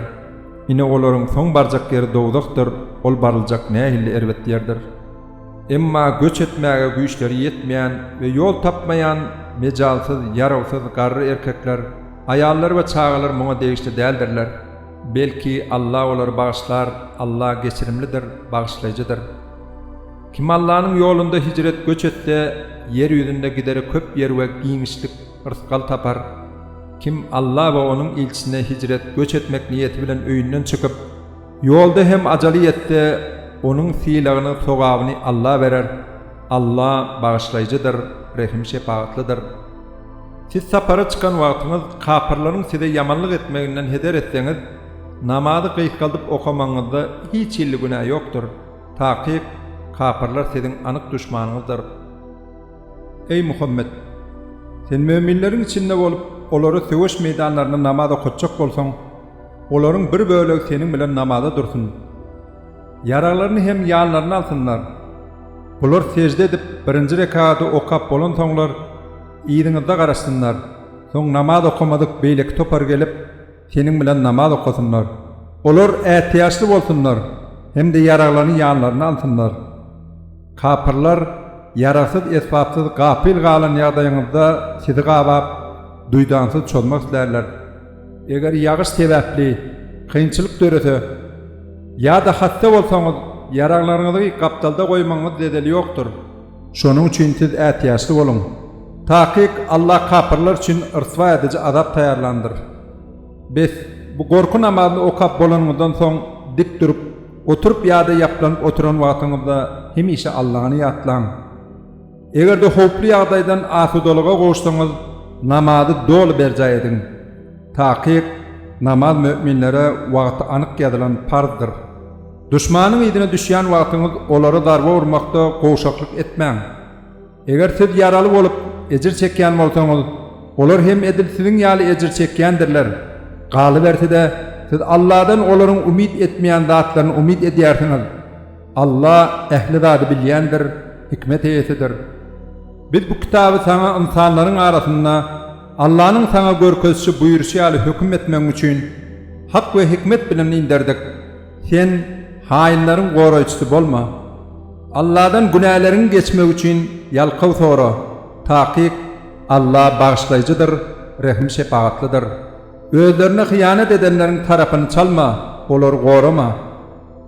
Ine olaryň soň barjak ýeri dowzahdyr, ol baryljak nähilli erbet ýerdir! Emma göç etmäge güýçleri ýetmeýän we ýol tapmaýan mejalsyz, ýarawsyz, garry erkekler, aýallar we çagalar muňa degişli däldirler. Belki, Alla olary bagyşlar, Alla geçirimlidir, bagyşlaýjydyr. Kim Allanyň ýolunda hijret, göç etse, ýer ýüzünde gidere köp ýer we giňişlik, Rysgal tapar. Kim Alla we Onuň ilçisine hijret, göç etmek niýeti bilen öýünden çykyp, ýolda hem ajaly ýetse, onuň sylagyny, sogabyny Alla berer. Alla Bagyşlaýjydyr, Rehim-şepagatlydyr. Siz sapara çykan wagtyňyz kapyrlaryň size ýamanlyk etmeginden heder etseňiz, namazy gysgaldyp okamagyňyzda hiç hilli günä ýokdur. Takyk, kapyrlar siziň anyk duşmanyňyzdyr. Eý Muhammet! Sen möminleriň içinde bolup, olara söweş meýdanlarynda namaz okatjak bolsaň, olaryň bir bölegi seniň bilen namaza dursun. Ýaraglaryny hem ýanlaryna alsynlar. Bular sežde edip, birinji rekady okap bolansoňlar, yzyňyzda garaşsynlar. Soň namaz okamadyk beýleki topar gelip. Seniň bilen namaz okasynlar. Olar ätiýaçly bolsunlar hem-de ýaraglany ýanlaryna alsynlar. Kapyrlar ýaragsyz, esbapsyz, gapyl galan ýagdaýyňyzda sizi gabap, duýdansyz çozmak islärler. Eger ýagyş sebäpli kynçylyk dörese ýa-da hassa bolsaňyz, ýaraglaryňyzy gapdalda goýmagyňyz zedeli ýokdur. Şonuň üçin siz ätiýaçly boluň. Takyk, Alla kapyrlar üçin ryswa ediji azap taýýarlandyr. Bes, bu gorky namazyny okap bolanyňyzdan soň dik durup, oturyp ýa-da ýaplanyp oturan wagtyňyzda hemişe Allany ýatlaň. Eger-de howply ýagdaýdan asudalyga gowuşsaňyz, namazy doly berjaý ediň. Takyk, namaz möminlere wagty anyk ýazylan parzdyr. Duşmanyň yzyna düşýän wagtyňyz olara zarba urmakda gowşaklyk etmäň. Eger siz ýaraly bolup, ejir çekýän bolsaňyz, olar hem edil siziň ýaly ejir çekýändirler. Galyberse-de, siz Alladan olaryň umyt etmeýän zatlaryny umyt edýärsiňiz. Alla ähli zady bilýändir, hikmet eýesidir. Biz bu kitaby saňa ynsanlaryň arasynda Allanyň saňa görkezişi buýruşy ýaly höküm etmegiň üçin, hak we hikmet bilen inderdik. Sen haýynlaryň goraýjysy bolma. Alladan günäleriňi geçmek üçin ýalkaw sora, takyk, Alla Bagyşlaýjydyr, Rehim-şepagatlydyr. Özlerine hyýanat edenleriň tarapyny çalma, olary gorama.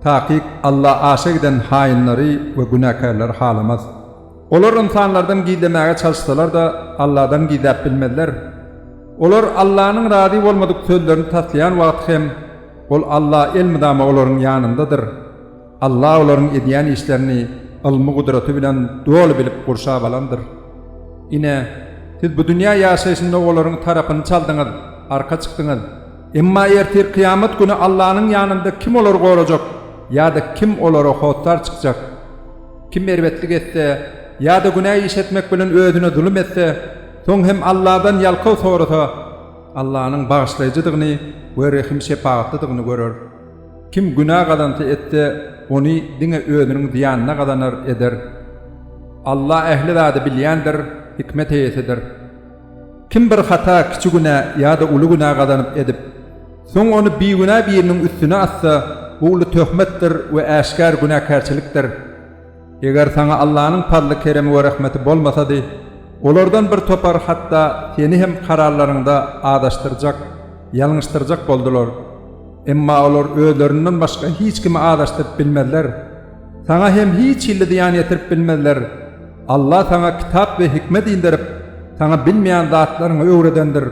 Takyk Alla aşa giden haýynlary we günäkärleri halamaz. Olar ynsanlardan gizlemäge çalyşsalar-da, Alladan gizläp bilmezler. Olar Allanyň razy bolmadyk sözlerini taslaýan wagty hem, Ol Alla elmydama olaryň ýanyndadyr. Alla olaryň edýän işlerini ylmy gudraty bilen doly bilip gurşap alandyr. Ine, siz bu dünýä ýaşaýşynda olaryň tarapyny çaldyňyz, arka çykdyňyz. Emma ertir kyýamat güni Allanyň ýanynda kim olary gorajak ýa-da kim olara hossar çykjak? Kim erbetlik etse ýa-da günä iş etmek bilen özüne zulum etse, soň hem Alladan ýalkaw sorasa, Allanyň bagyşlaýjydygyny we rehim-şepagatlydygyny görer. Kim günä gazanty etse, ony diňe özüniň zyýanyna gazanar, eder. Alla ähli zady bilýändir, hikmet eýesidir. Kim bir hata, kiçi günä ýa-da uly günä gazanyp edip, soň ony bigünä biriniň üstüne atsa, bu uly töhmetdir we äşgär günäkärçilikdir. Eger saňa Allanyň pazly-keremi we rehmeti bolmasady, olardan bir topar hatda seni hem kararlaryňda azaşdyrjak, ýalňyşdyrjak boldular. Emma olar özlerinden başga hiç kimi azaşdyryp bilmezler. Saňa hem hiç hilli zyýan ýetirip bilmezler. Alla saňa kitap we hikmet inderip, saňa bilmeýän zatlaryňy öwredendir.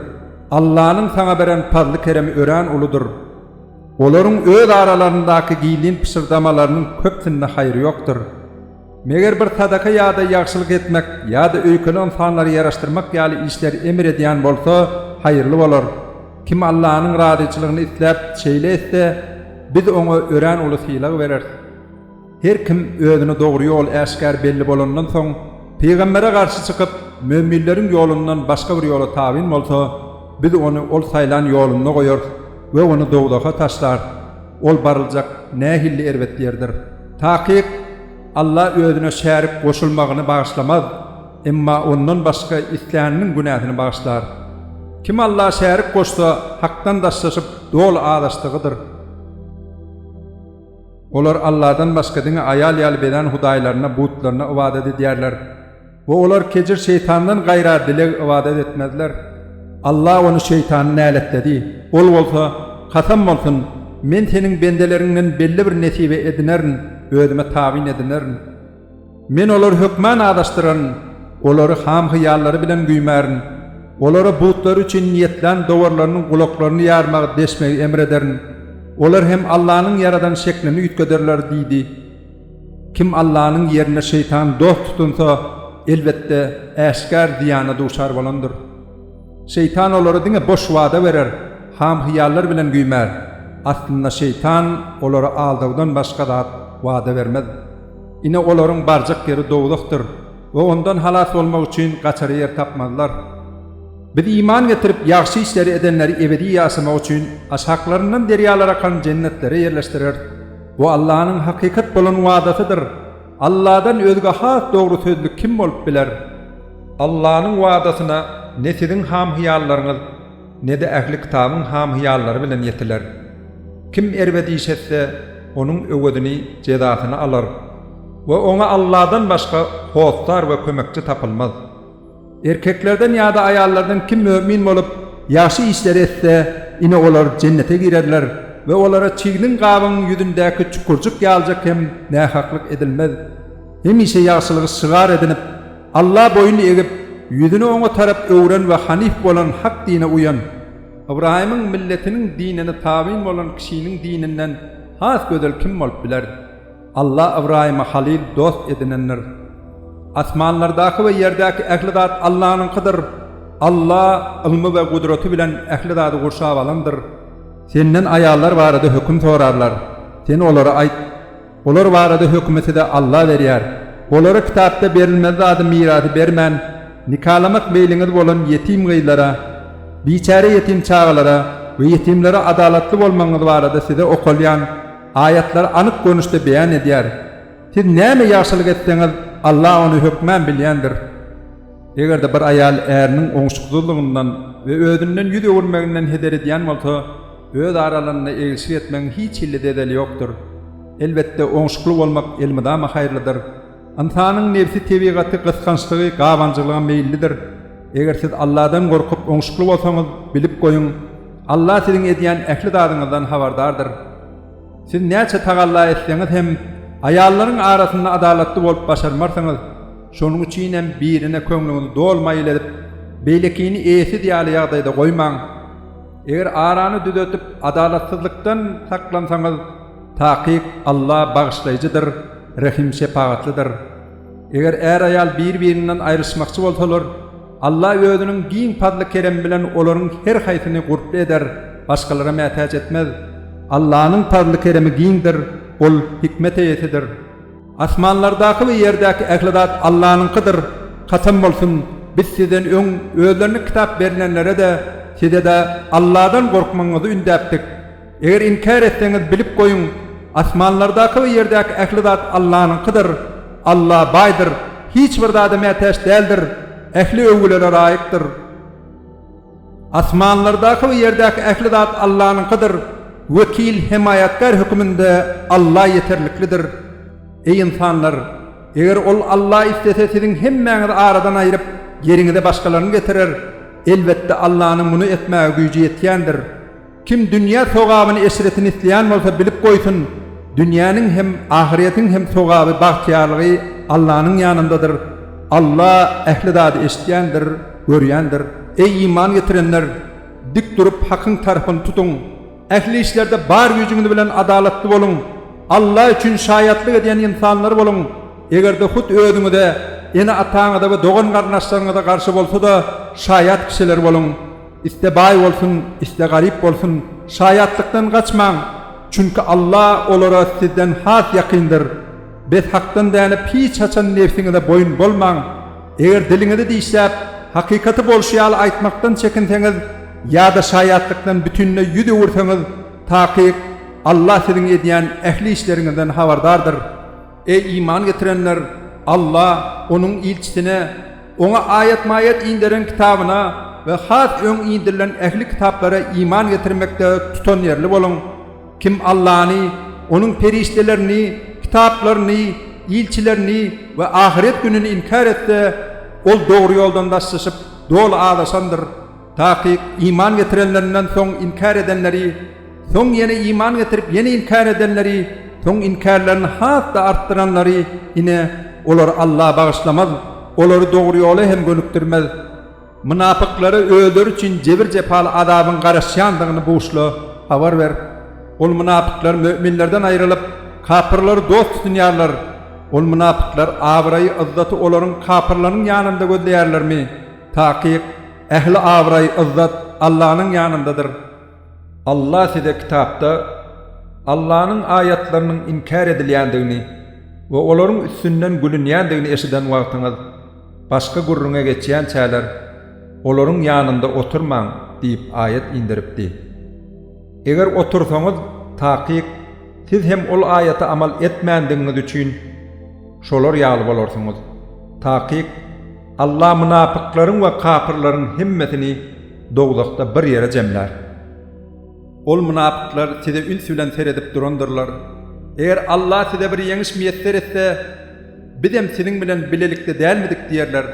Allanyň saňa beren pazly-keremi örän uludyr. Olaryň öz aralaryndaky gizlin pyşyrdamalarynyň köpsinde haýyr ýokdur. Meger bir sadaka ýa-da ýagşylyk etmek ýa-da öýkeli ynsanlary ýaraşdyrmak ýaly işleri emr edýän bolsa, haýyrly bolar. Kim Allanyň razyçylygyny isläp, şeýle etse, Biz oňa örän uly sylag bereris. Her kim özüne dogry ýol äşgär belli bolandan soň, pygambere garşy çykyp, möminleriň ýolundan başga bir ýola tabyn bolsa, Biz ony ol saýlan ýolunda goýarys we ony dowzaha taşlarys. Ol baryljak nähilli erbet ýerdir! Takyk, Alla özüne şärik goşulmagyny bagyşlamaz, emma ondan başga isläniniň günäsini bagyşlar. Kim Alla şärik goşsa, Hakdan daşlaşyp, doly azaşdygydyr. Olar Alladan başga diňe aýal ýaly bezän hudaýlaryna, butlaryna ybadat edýärler we olar kejir şeýtandan gaýra dileg ybadat etmezler. Allah ony şeýtany näletledi. Ol bolsa, Kasam bolsun, men Seniň bendeleriňden belli bir nesibe edinerin, özüme tabyn edinerin. Men olary hökman azaşdyraryn, olary ham-hyýallary bilen güýmärin, olara butlary üçin niýetlän dowarlarynyň gulaklaryny ýarmagy deşmegi emr ederin, olar hem Allanyň ýaradan şeklini üýtgederler diýdi. Kim Allanyň ýerine şeýtany dost tutunsa, elbetde, äşgär zyýana duçar bolandyr. Şeýtan olara diňe boş wada berer, ham-hyýallar bilen güýmär. Aslynda şeýtan olara aldawdan başga zat wada bermez. Ine, olaryň barjak ýeri dowzahdyr we ondan halas bolmak üçin gaçar ýer tapmazlar. Biz iman getirip, ýagşy işleri edenleri ebedi ýaşamak üçin aşaklaryndan derýalar akan jennetlere ýerleşdireris. Bu Allanyň hakykat bolan wadasydyr. Alladan özge has dogry sözli kim bolup biler? Allanyň wadasyna ne siziň ham-hyýallaryňyz. Ne-de ähli kitabyň ham-hyýallary bilen ýetiler. Kim erbet iş etse, onuň öwezini, jezasyny, alar we oňa Allahdan başga hossar we kömekçi tapylmaz. Erkeklerden ýa-da aýallardan kim mömin bolup, ýagşy işleri etse, ine, olar jennete girerler we olara çigniň gabyň ýüzündäki çukurjyk ýalyjak hem nähaklyk edilmez. Hemişe ýagşylygy şygar edinip, Alla boýun egip, ýüzüni Oňa tarap öwren we hanyf bolan hak dine uýan, Ybraýymyň milletiniň dinine tabyn bolan kişiniň dininden has gözel kim bolup biler? Alla Ybraýymy halyl, dost, edinendir. Asmanlardaky we ýerdäki ähli zat Allanyňkydyr. Alla ylmy we gudraty bilen ähli zady gurşap alandyr. Senden aýallar barada höküm sorarlar. Sen olara aýt. Olar barada hökümi size Alla berýär. Olara kitapda berilmeli zady mirasy bermän, nikalamak meýliňiz bolan ýetim gyzlara, biçäre ýetim çagalara we ýetimlere adalatly bolmagyňyz barada size okalýan Aýatlar anyk görnüşde beýan edýär. Siz näme ýagşylyk etseňiz, Alla ony hökman bilýändir. Eger-de bir aýal äriniň oňşuksyzlygyndan we özünden ýüz öwürmeginden heder edýän bolsa, Öz aralarynda egilşik etmegiň hiç hilli zedeli ýokdur. Elbetde, oňşukly bolmak elmydama haýyrlydyr. Ynsanyň nebsi tebigaty gysgançlygy, gabanjylyga meýillidir. Eger siz Alladan gorkup, oňşukly bolsaňyz, bilip goýuň, Alla siziň edýän ähli zadyňyzdan habardardyr. Siz näçe tagalla etseňiz hem, aýallaryň arasynda adalatly bolup başarmarsyňyz. Şonuň üçinem birine köňlüňizi doly maýyl edip, beýlekini eýesiz ýaly ýagdaýda goýmaň. Eger arany düzetip, adalatsyzlykdan saklansaňyz, takyk Alla bagyşlaýjydyr, rehim-şepagatlydyr. Eger är-aýal bir-birinden aýryşmakçy bolsalar, Alla Özüniň giň pazly-keremi bilen olaryň her haýsyny gurply eder, başgalara mätäç etmez. Allanyň pazly-keremi giňdir, Ol hikmet eýesidir. Asmanlardaky we ýerdäki ähli zat Allanyňkydyr, kasam bolsun, biz sizden öň özlerine kitap berilenlere-de, size-de Alladan gorkmagyňyzy ündäpdik. Eger inkär etseňiz, bilip goýuň, asmanlardaky we ýerdäki ähli zat Allanyňkydyr. Alla baýdyr, hiç bir zada mätäç däldir, ähli öwgülere laýykdyr. Asmanlardaky we ýerdäki ähli zat Allanyňkydyr, wekil, hemaýatkär höküminde Alla ýeterliklidir. Eý ynsanlar! Eger Ol, Alla, islese siziň hemmäňizi aradan aýryp, ýeriňize başgalaryny getirer. Elbetde Allanyň muny etmäge güýji ýetýändir. Kim dünýä sogabyny eşretini isleýän bolsa bilip goýsun, dünýäniň hem ahyretiň hem sogaby bagtyýarlygy Allanyň ýanyndadyr, Alla ähli zady eşitýändir, görýändir. Eý iman getirenler! Dik durup hakyň tarapyny tutuň, ähli işlerde bar güýjüňiz bilen adalatly boluň, Alla üçin şaýatlyk edýän ynsanlar boluň, egerde hut özüňize, ene-ataňyza we dogan-garyndaşlaryňyza garşy bolsa-da şaýat kişiler boluň. Iste baý bolsun, iste garyp bolsun, şaýatlykdan gaçmaň, çünki Alla olara sizden has ýakyndyr. Bethakdan dänip hiç haçan nebsiňize boýun bolmaň. Eger diliňizi dişläp, hakykaty bolşy ýaly aýtmakdan çekinseňiz ýa-da şaýatlykdan bütinleý ýüz öwürseňiz, takyk, Alla siziň edýän ähli işleriňizden habardardyr. Eý, iman getirenler! Alla, Onuň ilçisine, Oňa aýat-maýat inderen kitabyna we has öň indirilen ähli kitaplara iman getirmekde tutanýerli boluň! Kim Allany, Onuň perişdelerini, kitaplaryny, ilçilerini we ahyret gününi inkär etse, ol dogry ýoldan daşlaşyp, doly azaşandyr. Takyk, iman getirenlerinden soň inkär edenleri, soň ýene iman getirip ýene inkär edenleri, soň inkärlerini has-da artdyranlary, ine, olary Allah bagyşlamaz, olary dogry ýola hem gönükdirmez. Mynapyklara özleri üçin jebir-jepaly azabyň garaşýandygyny buşla habar ber. Ol mynapyklar möminlerden aýrylyp, kapyrlary dost tutunýarlar. Ol mynapyklar abraýy, yzzaty olaryň, kapyrlaryň, ýanynda gözleýärlermi? Takyk, Ähli abraý, yzzat Allanyň ýanyndadyr. Allah size Kitapda Allanyň aýatlarynyň inkär edilýändigini we olaryň üstünden gülünýändigini eşiden wagtyňyz, başga gürrüňe geçýänçäler, olaryň ýanynda oturmaň diýip aýat inderipdi. Eger otursaňyz, takyk, siz hem ol aýata amal etmändigiňiz üçin, şolar ýaly bolarsyňyz. Takyk, Allah mynapyklaryň we kapyrlaryň hemmesini dowzahda bir ýere jemlär. Ol mynapyklar size üns bilen seredip durandyrlar. Eger Allah size bir ýeňiş miýesser etse, Bizem siziň bilen bilelikde dälmidik diýerler.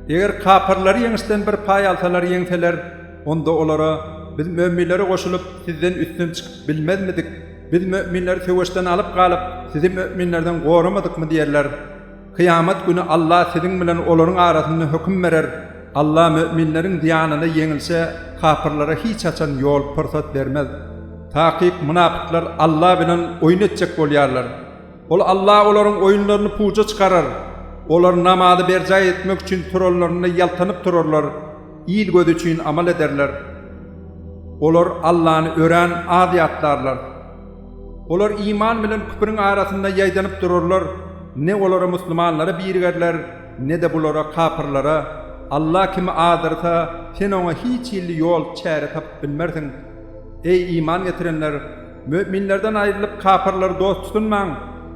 Eger kapyrlar ýeňişden bir paý alsalar, ýeňseler, onda olara, Biz möminlere goşulyp, sizden üstün çykyp bilmezmidik? Biz möminleri söweşden alyp galyp, sizi möminlerden goramadykmy diýerler. Kyýamat güni Allah siziň bilen olaryň arasynda höküm berer. Allah möminleriň zyýanyna ýeňilçe, kapyrlara hiç haçan ýol, pursat bermez. Takyk, mynapyklar Allah bilen oýun etjek bolýarlar. Ol Allah olaryň oýunlaryny puja çykarar. Olar namazy berjaý etmek üçin turanlarynda ýaltanyp turarlar, il gözi üçin amal ederler. Olar Allany örän az ýatlarlar. Olar iman bilen küpüriň arasynda ýaýdanyp durarlar, ne olara musulmanlara birigerler, ne-de bulara, kapyrlara, Alla kimi adyrsa, sen oňa hiç hilli ýol, çäre tapyp bilmersiň. Eý, iman getirenler! Möminlerden aýrylyp, kapyrlary dost tutunmaň,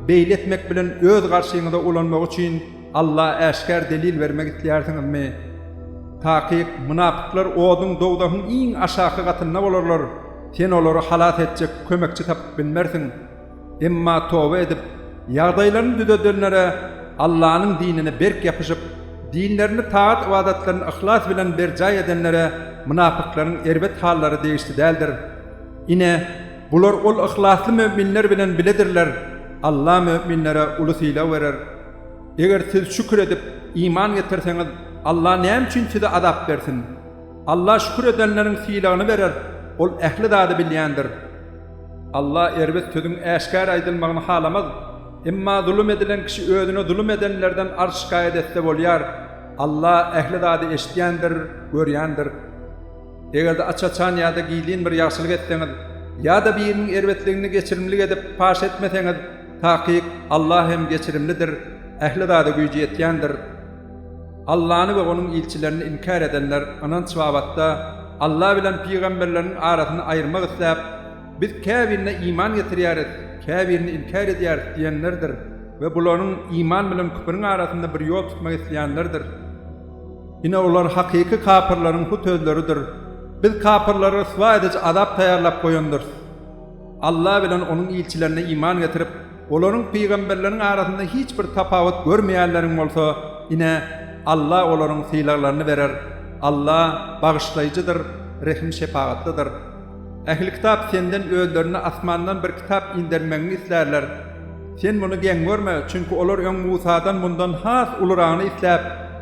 beýle etmek bilen öz garşyňyza ulanmagy üçin, Alla äşgär delil bermek islýärsiňizmi? Takyk, mynapyklar oduň, dowzahyň iň aşaky gatynda bolarlar, sen olary halas etjek kömekçi tapyp bilmersiň. Emma toba edip, ýagdaýlaryny düzedenlere, Allanyň dinine berk ýapyşyp, dinlerini, tagat-ybadatlaryny yhlas bilen berjaý edenlere mynapyklaryň erbet hallary degişli däldir. Ine, bular ol yhlasly möminler bilen biledirler, Alla möminlere uly sylag berer. Eger siz şükür edip, iman getirseňiz, Alla näme üçin size azap bersin? Alla şükür edenleriň sylagyny berer, Ol ähli zady bilýändir. Alla erbet sözüň äşgär aýdylmagyny halamaz. Emma zulum edilen kişi özüne zulum edenlerden arz-şikaýat etse bolýar. Alla ähli zady eşidýändir, görýändir. Eger-de aç-açan ýa-da gizlin bir ýagşylyk etseňiz, ýa-da biriniň erbetligini geçirimlik edip, paş etmeseňiz, Takyk, Alla hem geçirimlidir, ähli zada güýji ýetýändir. Allany we Onuň ilçilerini inkär edenler, ynanç babatda, Alla bilen pygamberleriniň arasyny aýyrmak isläp, Biz käbirine iman getirýäris, käbirini inkär edýäris diýenlerdir we bularyň iman bilen küpüriň arasynda bir ýol tutmak isleýänlerdir. Ine, olar hakyky kapyrlaryň hut özleridir. Biz kapyrlara ryswa ediji azap taýýarlap goýandyrys. Alla bilen Onuň ilçilerine iman getirip, olaryň, pygamberleriň, arasynda hiç bir tapawut görmeýänleriň bolsa, ine, Alla olaryň sylaglaryny berer. Alla, Bagyşlaýjydyr, Rehim-şepagatlydyr. Ähli kitap senden özlerine asmandan bir kitap indermegiňi islärler. Sen muny geň görme, çünki olar öň Musadan mundan has ulurygyny isläp,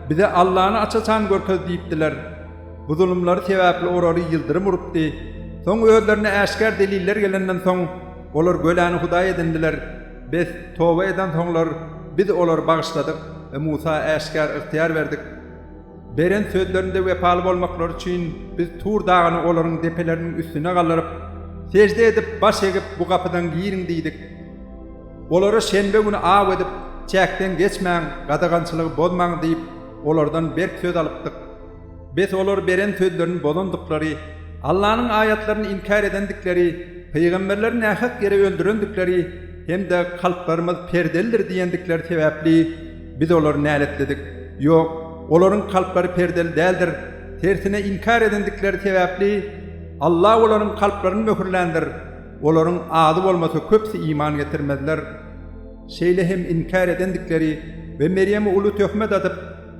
Bize Allany aç-açan görkez diýipdiler. Bu zulumlary sebäpli orary ýyldyrym urupdy. Soň özlerine äşgär deliller gelenden soň, olar göläni hudaý edindiler. Bes, toba edensoňlar, Biz olary bagyşladyk we Musa äşgär ygtyýar berdik. Beren sözlerinde wepaly bolmaklary üçin biz Tur dagyny olaryň depeleriniň üstüne galdyryp, sežde edip, baş egip, Bu gapydan giriň diýdik. Olara şenbe güni aw edip, Çäkden geçmäň, gadagançylygy bozmaň diýip, olardan berk söz alypdyk. Biz olar beren sözlerini bozandyklary, Allanyň aýatlaryny inkär edendikleri, pygamberleri nähak ýere öldürendikleri hem-de kalplarymyz perdelidir diýendikleri sebäpli Biz olary näletledik. Ýok, olaryň kalplary perdeli däldir, tersine inkär edendikleri sebäpli Alla olaryň kalplaryny möhürländir. Olaryň azy bolmasa köpüsi iman getirmezler. Şeýle hem inkär edendikleri we Merýeme uly töhmet atyp,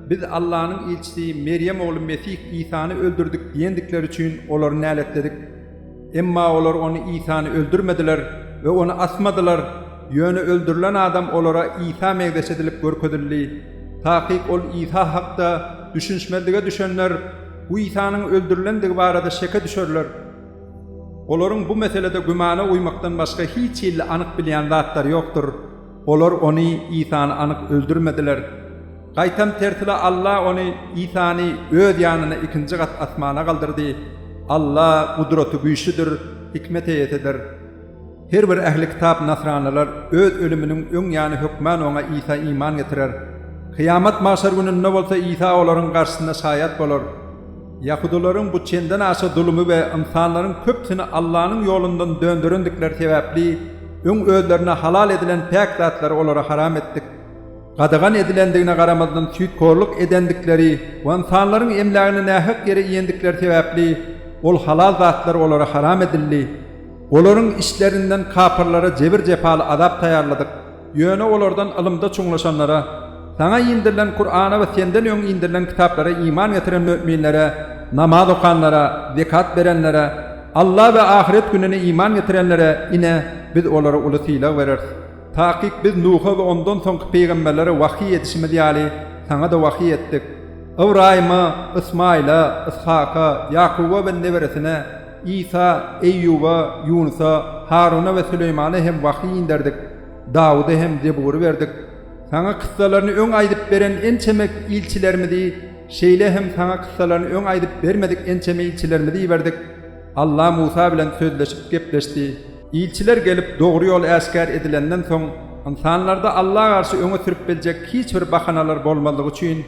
Biz Allanyň ilçisi Merýem ogly Mesih Isany öldürdik diýendikleri üçin olary näletledik. Emma olar ony Isany öldürmediler we ony asmadylar, ýöne öldürilen adam olara Isa meňzeş edilip görkezildi. Takyk ol Isa hakda düşünişmezlige düşenler bu Isanyň öldürilendigi barada şeke düşerler. Olaryň bu meselede gümana uýmakdan başga hiç hilli anyk bilýän zatlary ýokdur. Olar ony, Isany, anyk öldürmediler. Gaýtam tersine Alla ony, Isany, öz ýanyna ikinji gat asmana galdyrdy. Alla gudraty güýçlüdir, hikmet eýesidir. Her bir ähli kitap nasranylar öz ölüminiň öň ýany hökmän oňa, Isa, iman getirer. Kyýamat, magşar gününde bolsa Isa olaryň garşysynda şaýat bolar. Ýahudalaryň bu çenden aşa zulumy we ynsanlaryň köpüsini Allanyň ýolundan dönderendikleri sebäpli, öň özlerine halal edilen päk zatlary olara haram etdik. Gadagan edilendigine garamazdan süýthorluk edendikleri we ynsanlaryň emlägini nähak ýere iýendikleri sebäpli, ol halal zatlar olara haram edildi. Olaryň işlerinden kapyrlara jebir-jepaly azap taýýarladyk. Ýöne olardan ylymda çuňlaşanlara, Saňa indirilen Kur'ana we Senden öň indirilen kitaplara iman getiren möminlere, namaz okanlara, zekat berenlere, Alla we ahyret gününe iman getirenlere, ine, Biz olara uly sylag bereris. Takyk Biz Nuha we ondan soňky pygamberlere wahyý edişimiz ýaly, saňa-da wahyý etdik. Ybraýyma, Ysmaýyla, Yshaka, Ýakuba we neberesine, Isa, Eýýuba, Ýunusa, Haruna we Süleýmana hem wahýy inderdik, Dawuda hem Zebury berdik. Saňa kyssalaryny öň aýdyp beren ençeme ilçilerimizi, şeýle hem Saňa kyssalaryny öň aýdyp bermedik ençeme ilçilerimizi iberdik. Alla Musa bilen sözleşip gepleşdi. Ilçiler gelip, dogry ýol äşgär edilenden soň, ynsanlarda Alla garşy öňe sürüp biljek hiç bir bahanalar bolmazlygy üçin,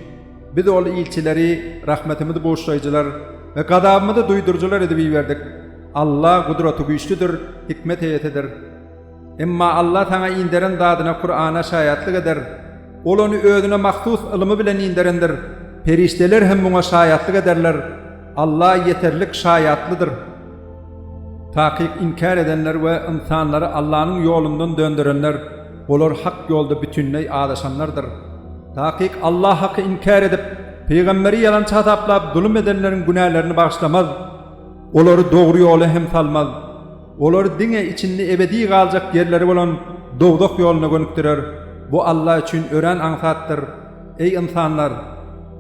Biz ol ilçileri rahmetimizi buşlaýjylar we gazabymyzy duýduryjylar edip iberdik. Alla Gudratygüýçlidir, hikmet eýesidir. Emma Alla saňa inderen zadyna Kurana şaýatlyk eder. Ol ony Özüne mahsus ylymy bilen inderendir. Perişdeler hem muňa şaýatlyk ederler. Alla ýeterlik şaýatlydyr. Takyk inkär edenler we ynsanlary Allanyň ýolundan dönderenler. Olar hak ýolda bütinleý azaşanlardyr. Takyk Allah haky inkär edip, pygamberi ýalançy hasaplap zulum edenleriň günälerini bagyşlamaz. Olary dogry ýola hem salmaz. Olary diňe içinde ebedi galjak ýerleri bolan dowzah ýoluna gönükdirer. Bu Allah üçin örän aňsatdyr. Eý ynsanlar!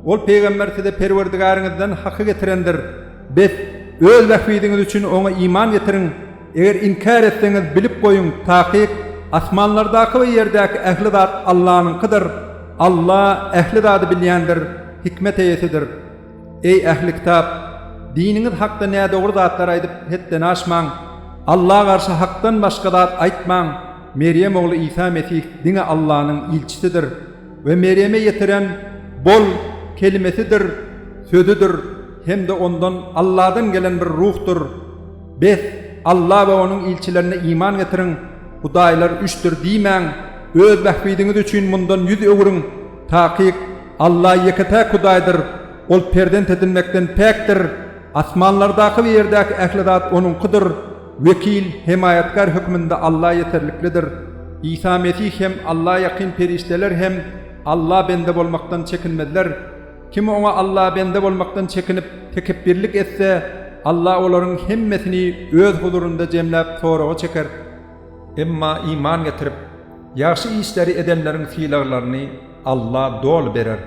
Ol pygamber size Perwerdigäriňizden haky getirendir. Bes, öz bähbidiňiz üçin oňa iman getiriň! Eger inkär etseňiz, bilip goýuň, takyk, asmanlardaky we ýerdäki ähli zat Allanyňkydyr, Alla ähli zady bilýändir, hikmet eýesidir. Eý, ähli kitap! Diniňiz hakda nädogry zatlar aýdyp, hetden aşmaň. Alla garşy hakdan başga zat aýtmaň. Merýem ogly Isa Mesih diňe Allanyň ilçisidir we Merýeme ýetiren Bol! kelimesidir, sözüdir hem-de ondan, Alladan gelen bir ruhdur. Bes, Alla we Onuň ilçilerine iman getiriň, hudaýlar üçdir diýmäň, öz bähbidiňiz üçin mundan ýüz öwüriň, takyk, Alla ýeke-täk Hudaýdyr, Ol perzent edinmekden päkdir, asmanlardaky we ýerdäki ähli zat Onuňkydyr, wekil, hemaýatkär hökmünde Alla ýeterliklidir. Isa Mesih hem, Alla ýakyn perişdeler hem Alla bende bolmakdan çekinmezler. Kim Oňa Allabende bolmakdan çekinip, tekepbirlik etse, Alla olaryň hemmesini Öz huzurynda jemläp soraga çeker. Emma iman getirip, ýagşy işleri edenleriň sylaglaryny Alla doly berer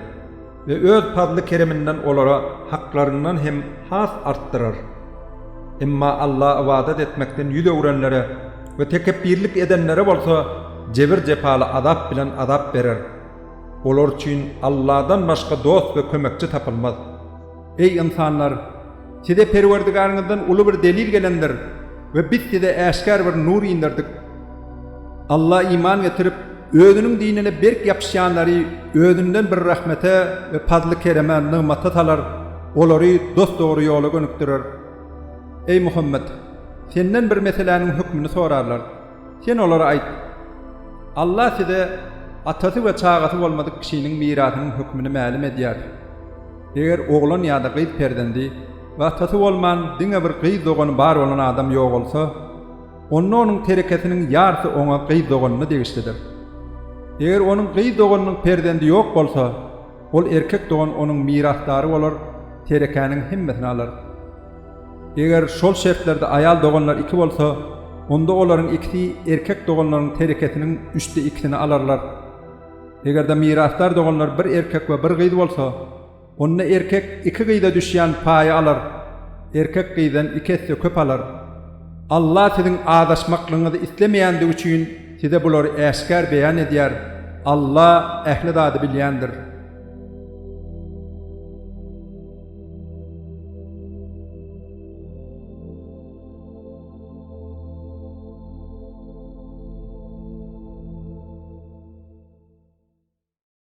we Öz pazly-kereminden olara haklaryndan hem has artdyrar. Emma Alla ybadat etmekden ýüz öwrenlere we tekepbirlik edenlere bolsa jebir-jepaly azap bilen azap berer. Olar üçin Alladan başga dost we kömekçi tapylmaz. Eý, ynsanlar! Size Perwerdigäriňizden uly bir delil gelendir we biz size äşgär bir nur inderdik. Alla iman getirip, özüniň dinine berk ýapyşýanlary özünden bir rahmete we pazly-kereme, nygmata salar, olary dos-dogry ýola gönükdirer. Eý, Muhammet! Senden bir meseläniň hökmüni sorarlar. Sen olara aýt, Allah size atasy we çagasy bolmadyk kişiniň mirasynyň hökmüni mälim edýär. Eger oglan ýa-da gyz perzendi we atasy bolman diňe bir gyz dogany bar bolan adam ýogalsa, onda onuň terekesiniň ýarsy oňa gyz doganyna degişlidir. Eger onuň gyz doganynyň perzendi ýok bolsa, Ol erkek dogan onuň mirasdary bolar, terekäniň hemmesini alar. Eger şol şertlerde aýal doganlar iki bolsa, onda olaryň ikisi erkek doganlaryň terekesiniň üçde ikisini alarlar. Eger-de mirasdar doganlar bir erkek we bir gyz bolsa, onda erkek iki gyza düşýän paýy alar, erkek gyzdan iki esse köp alar. Allah siziň azaşmaklygyňyzy islemeýändigi üçin size bulary äşgär beýan edýär, Allah ähli zady bilýändir.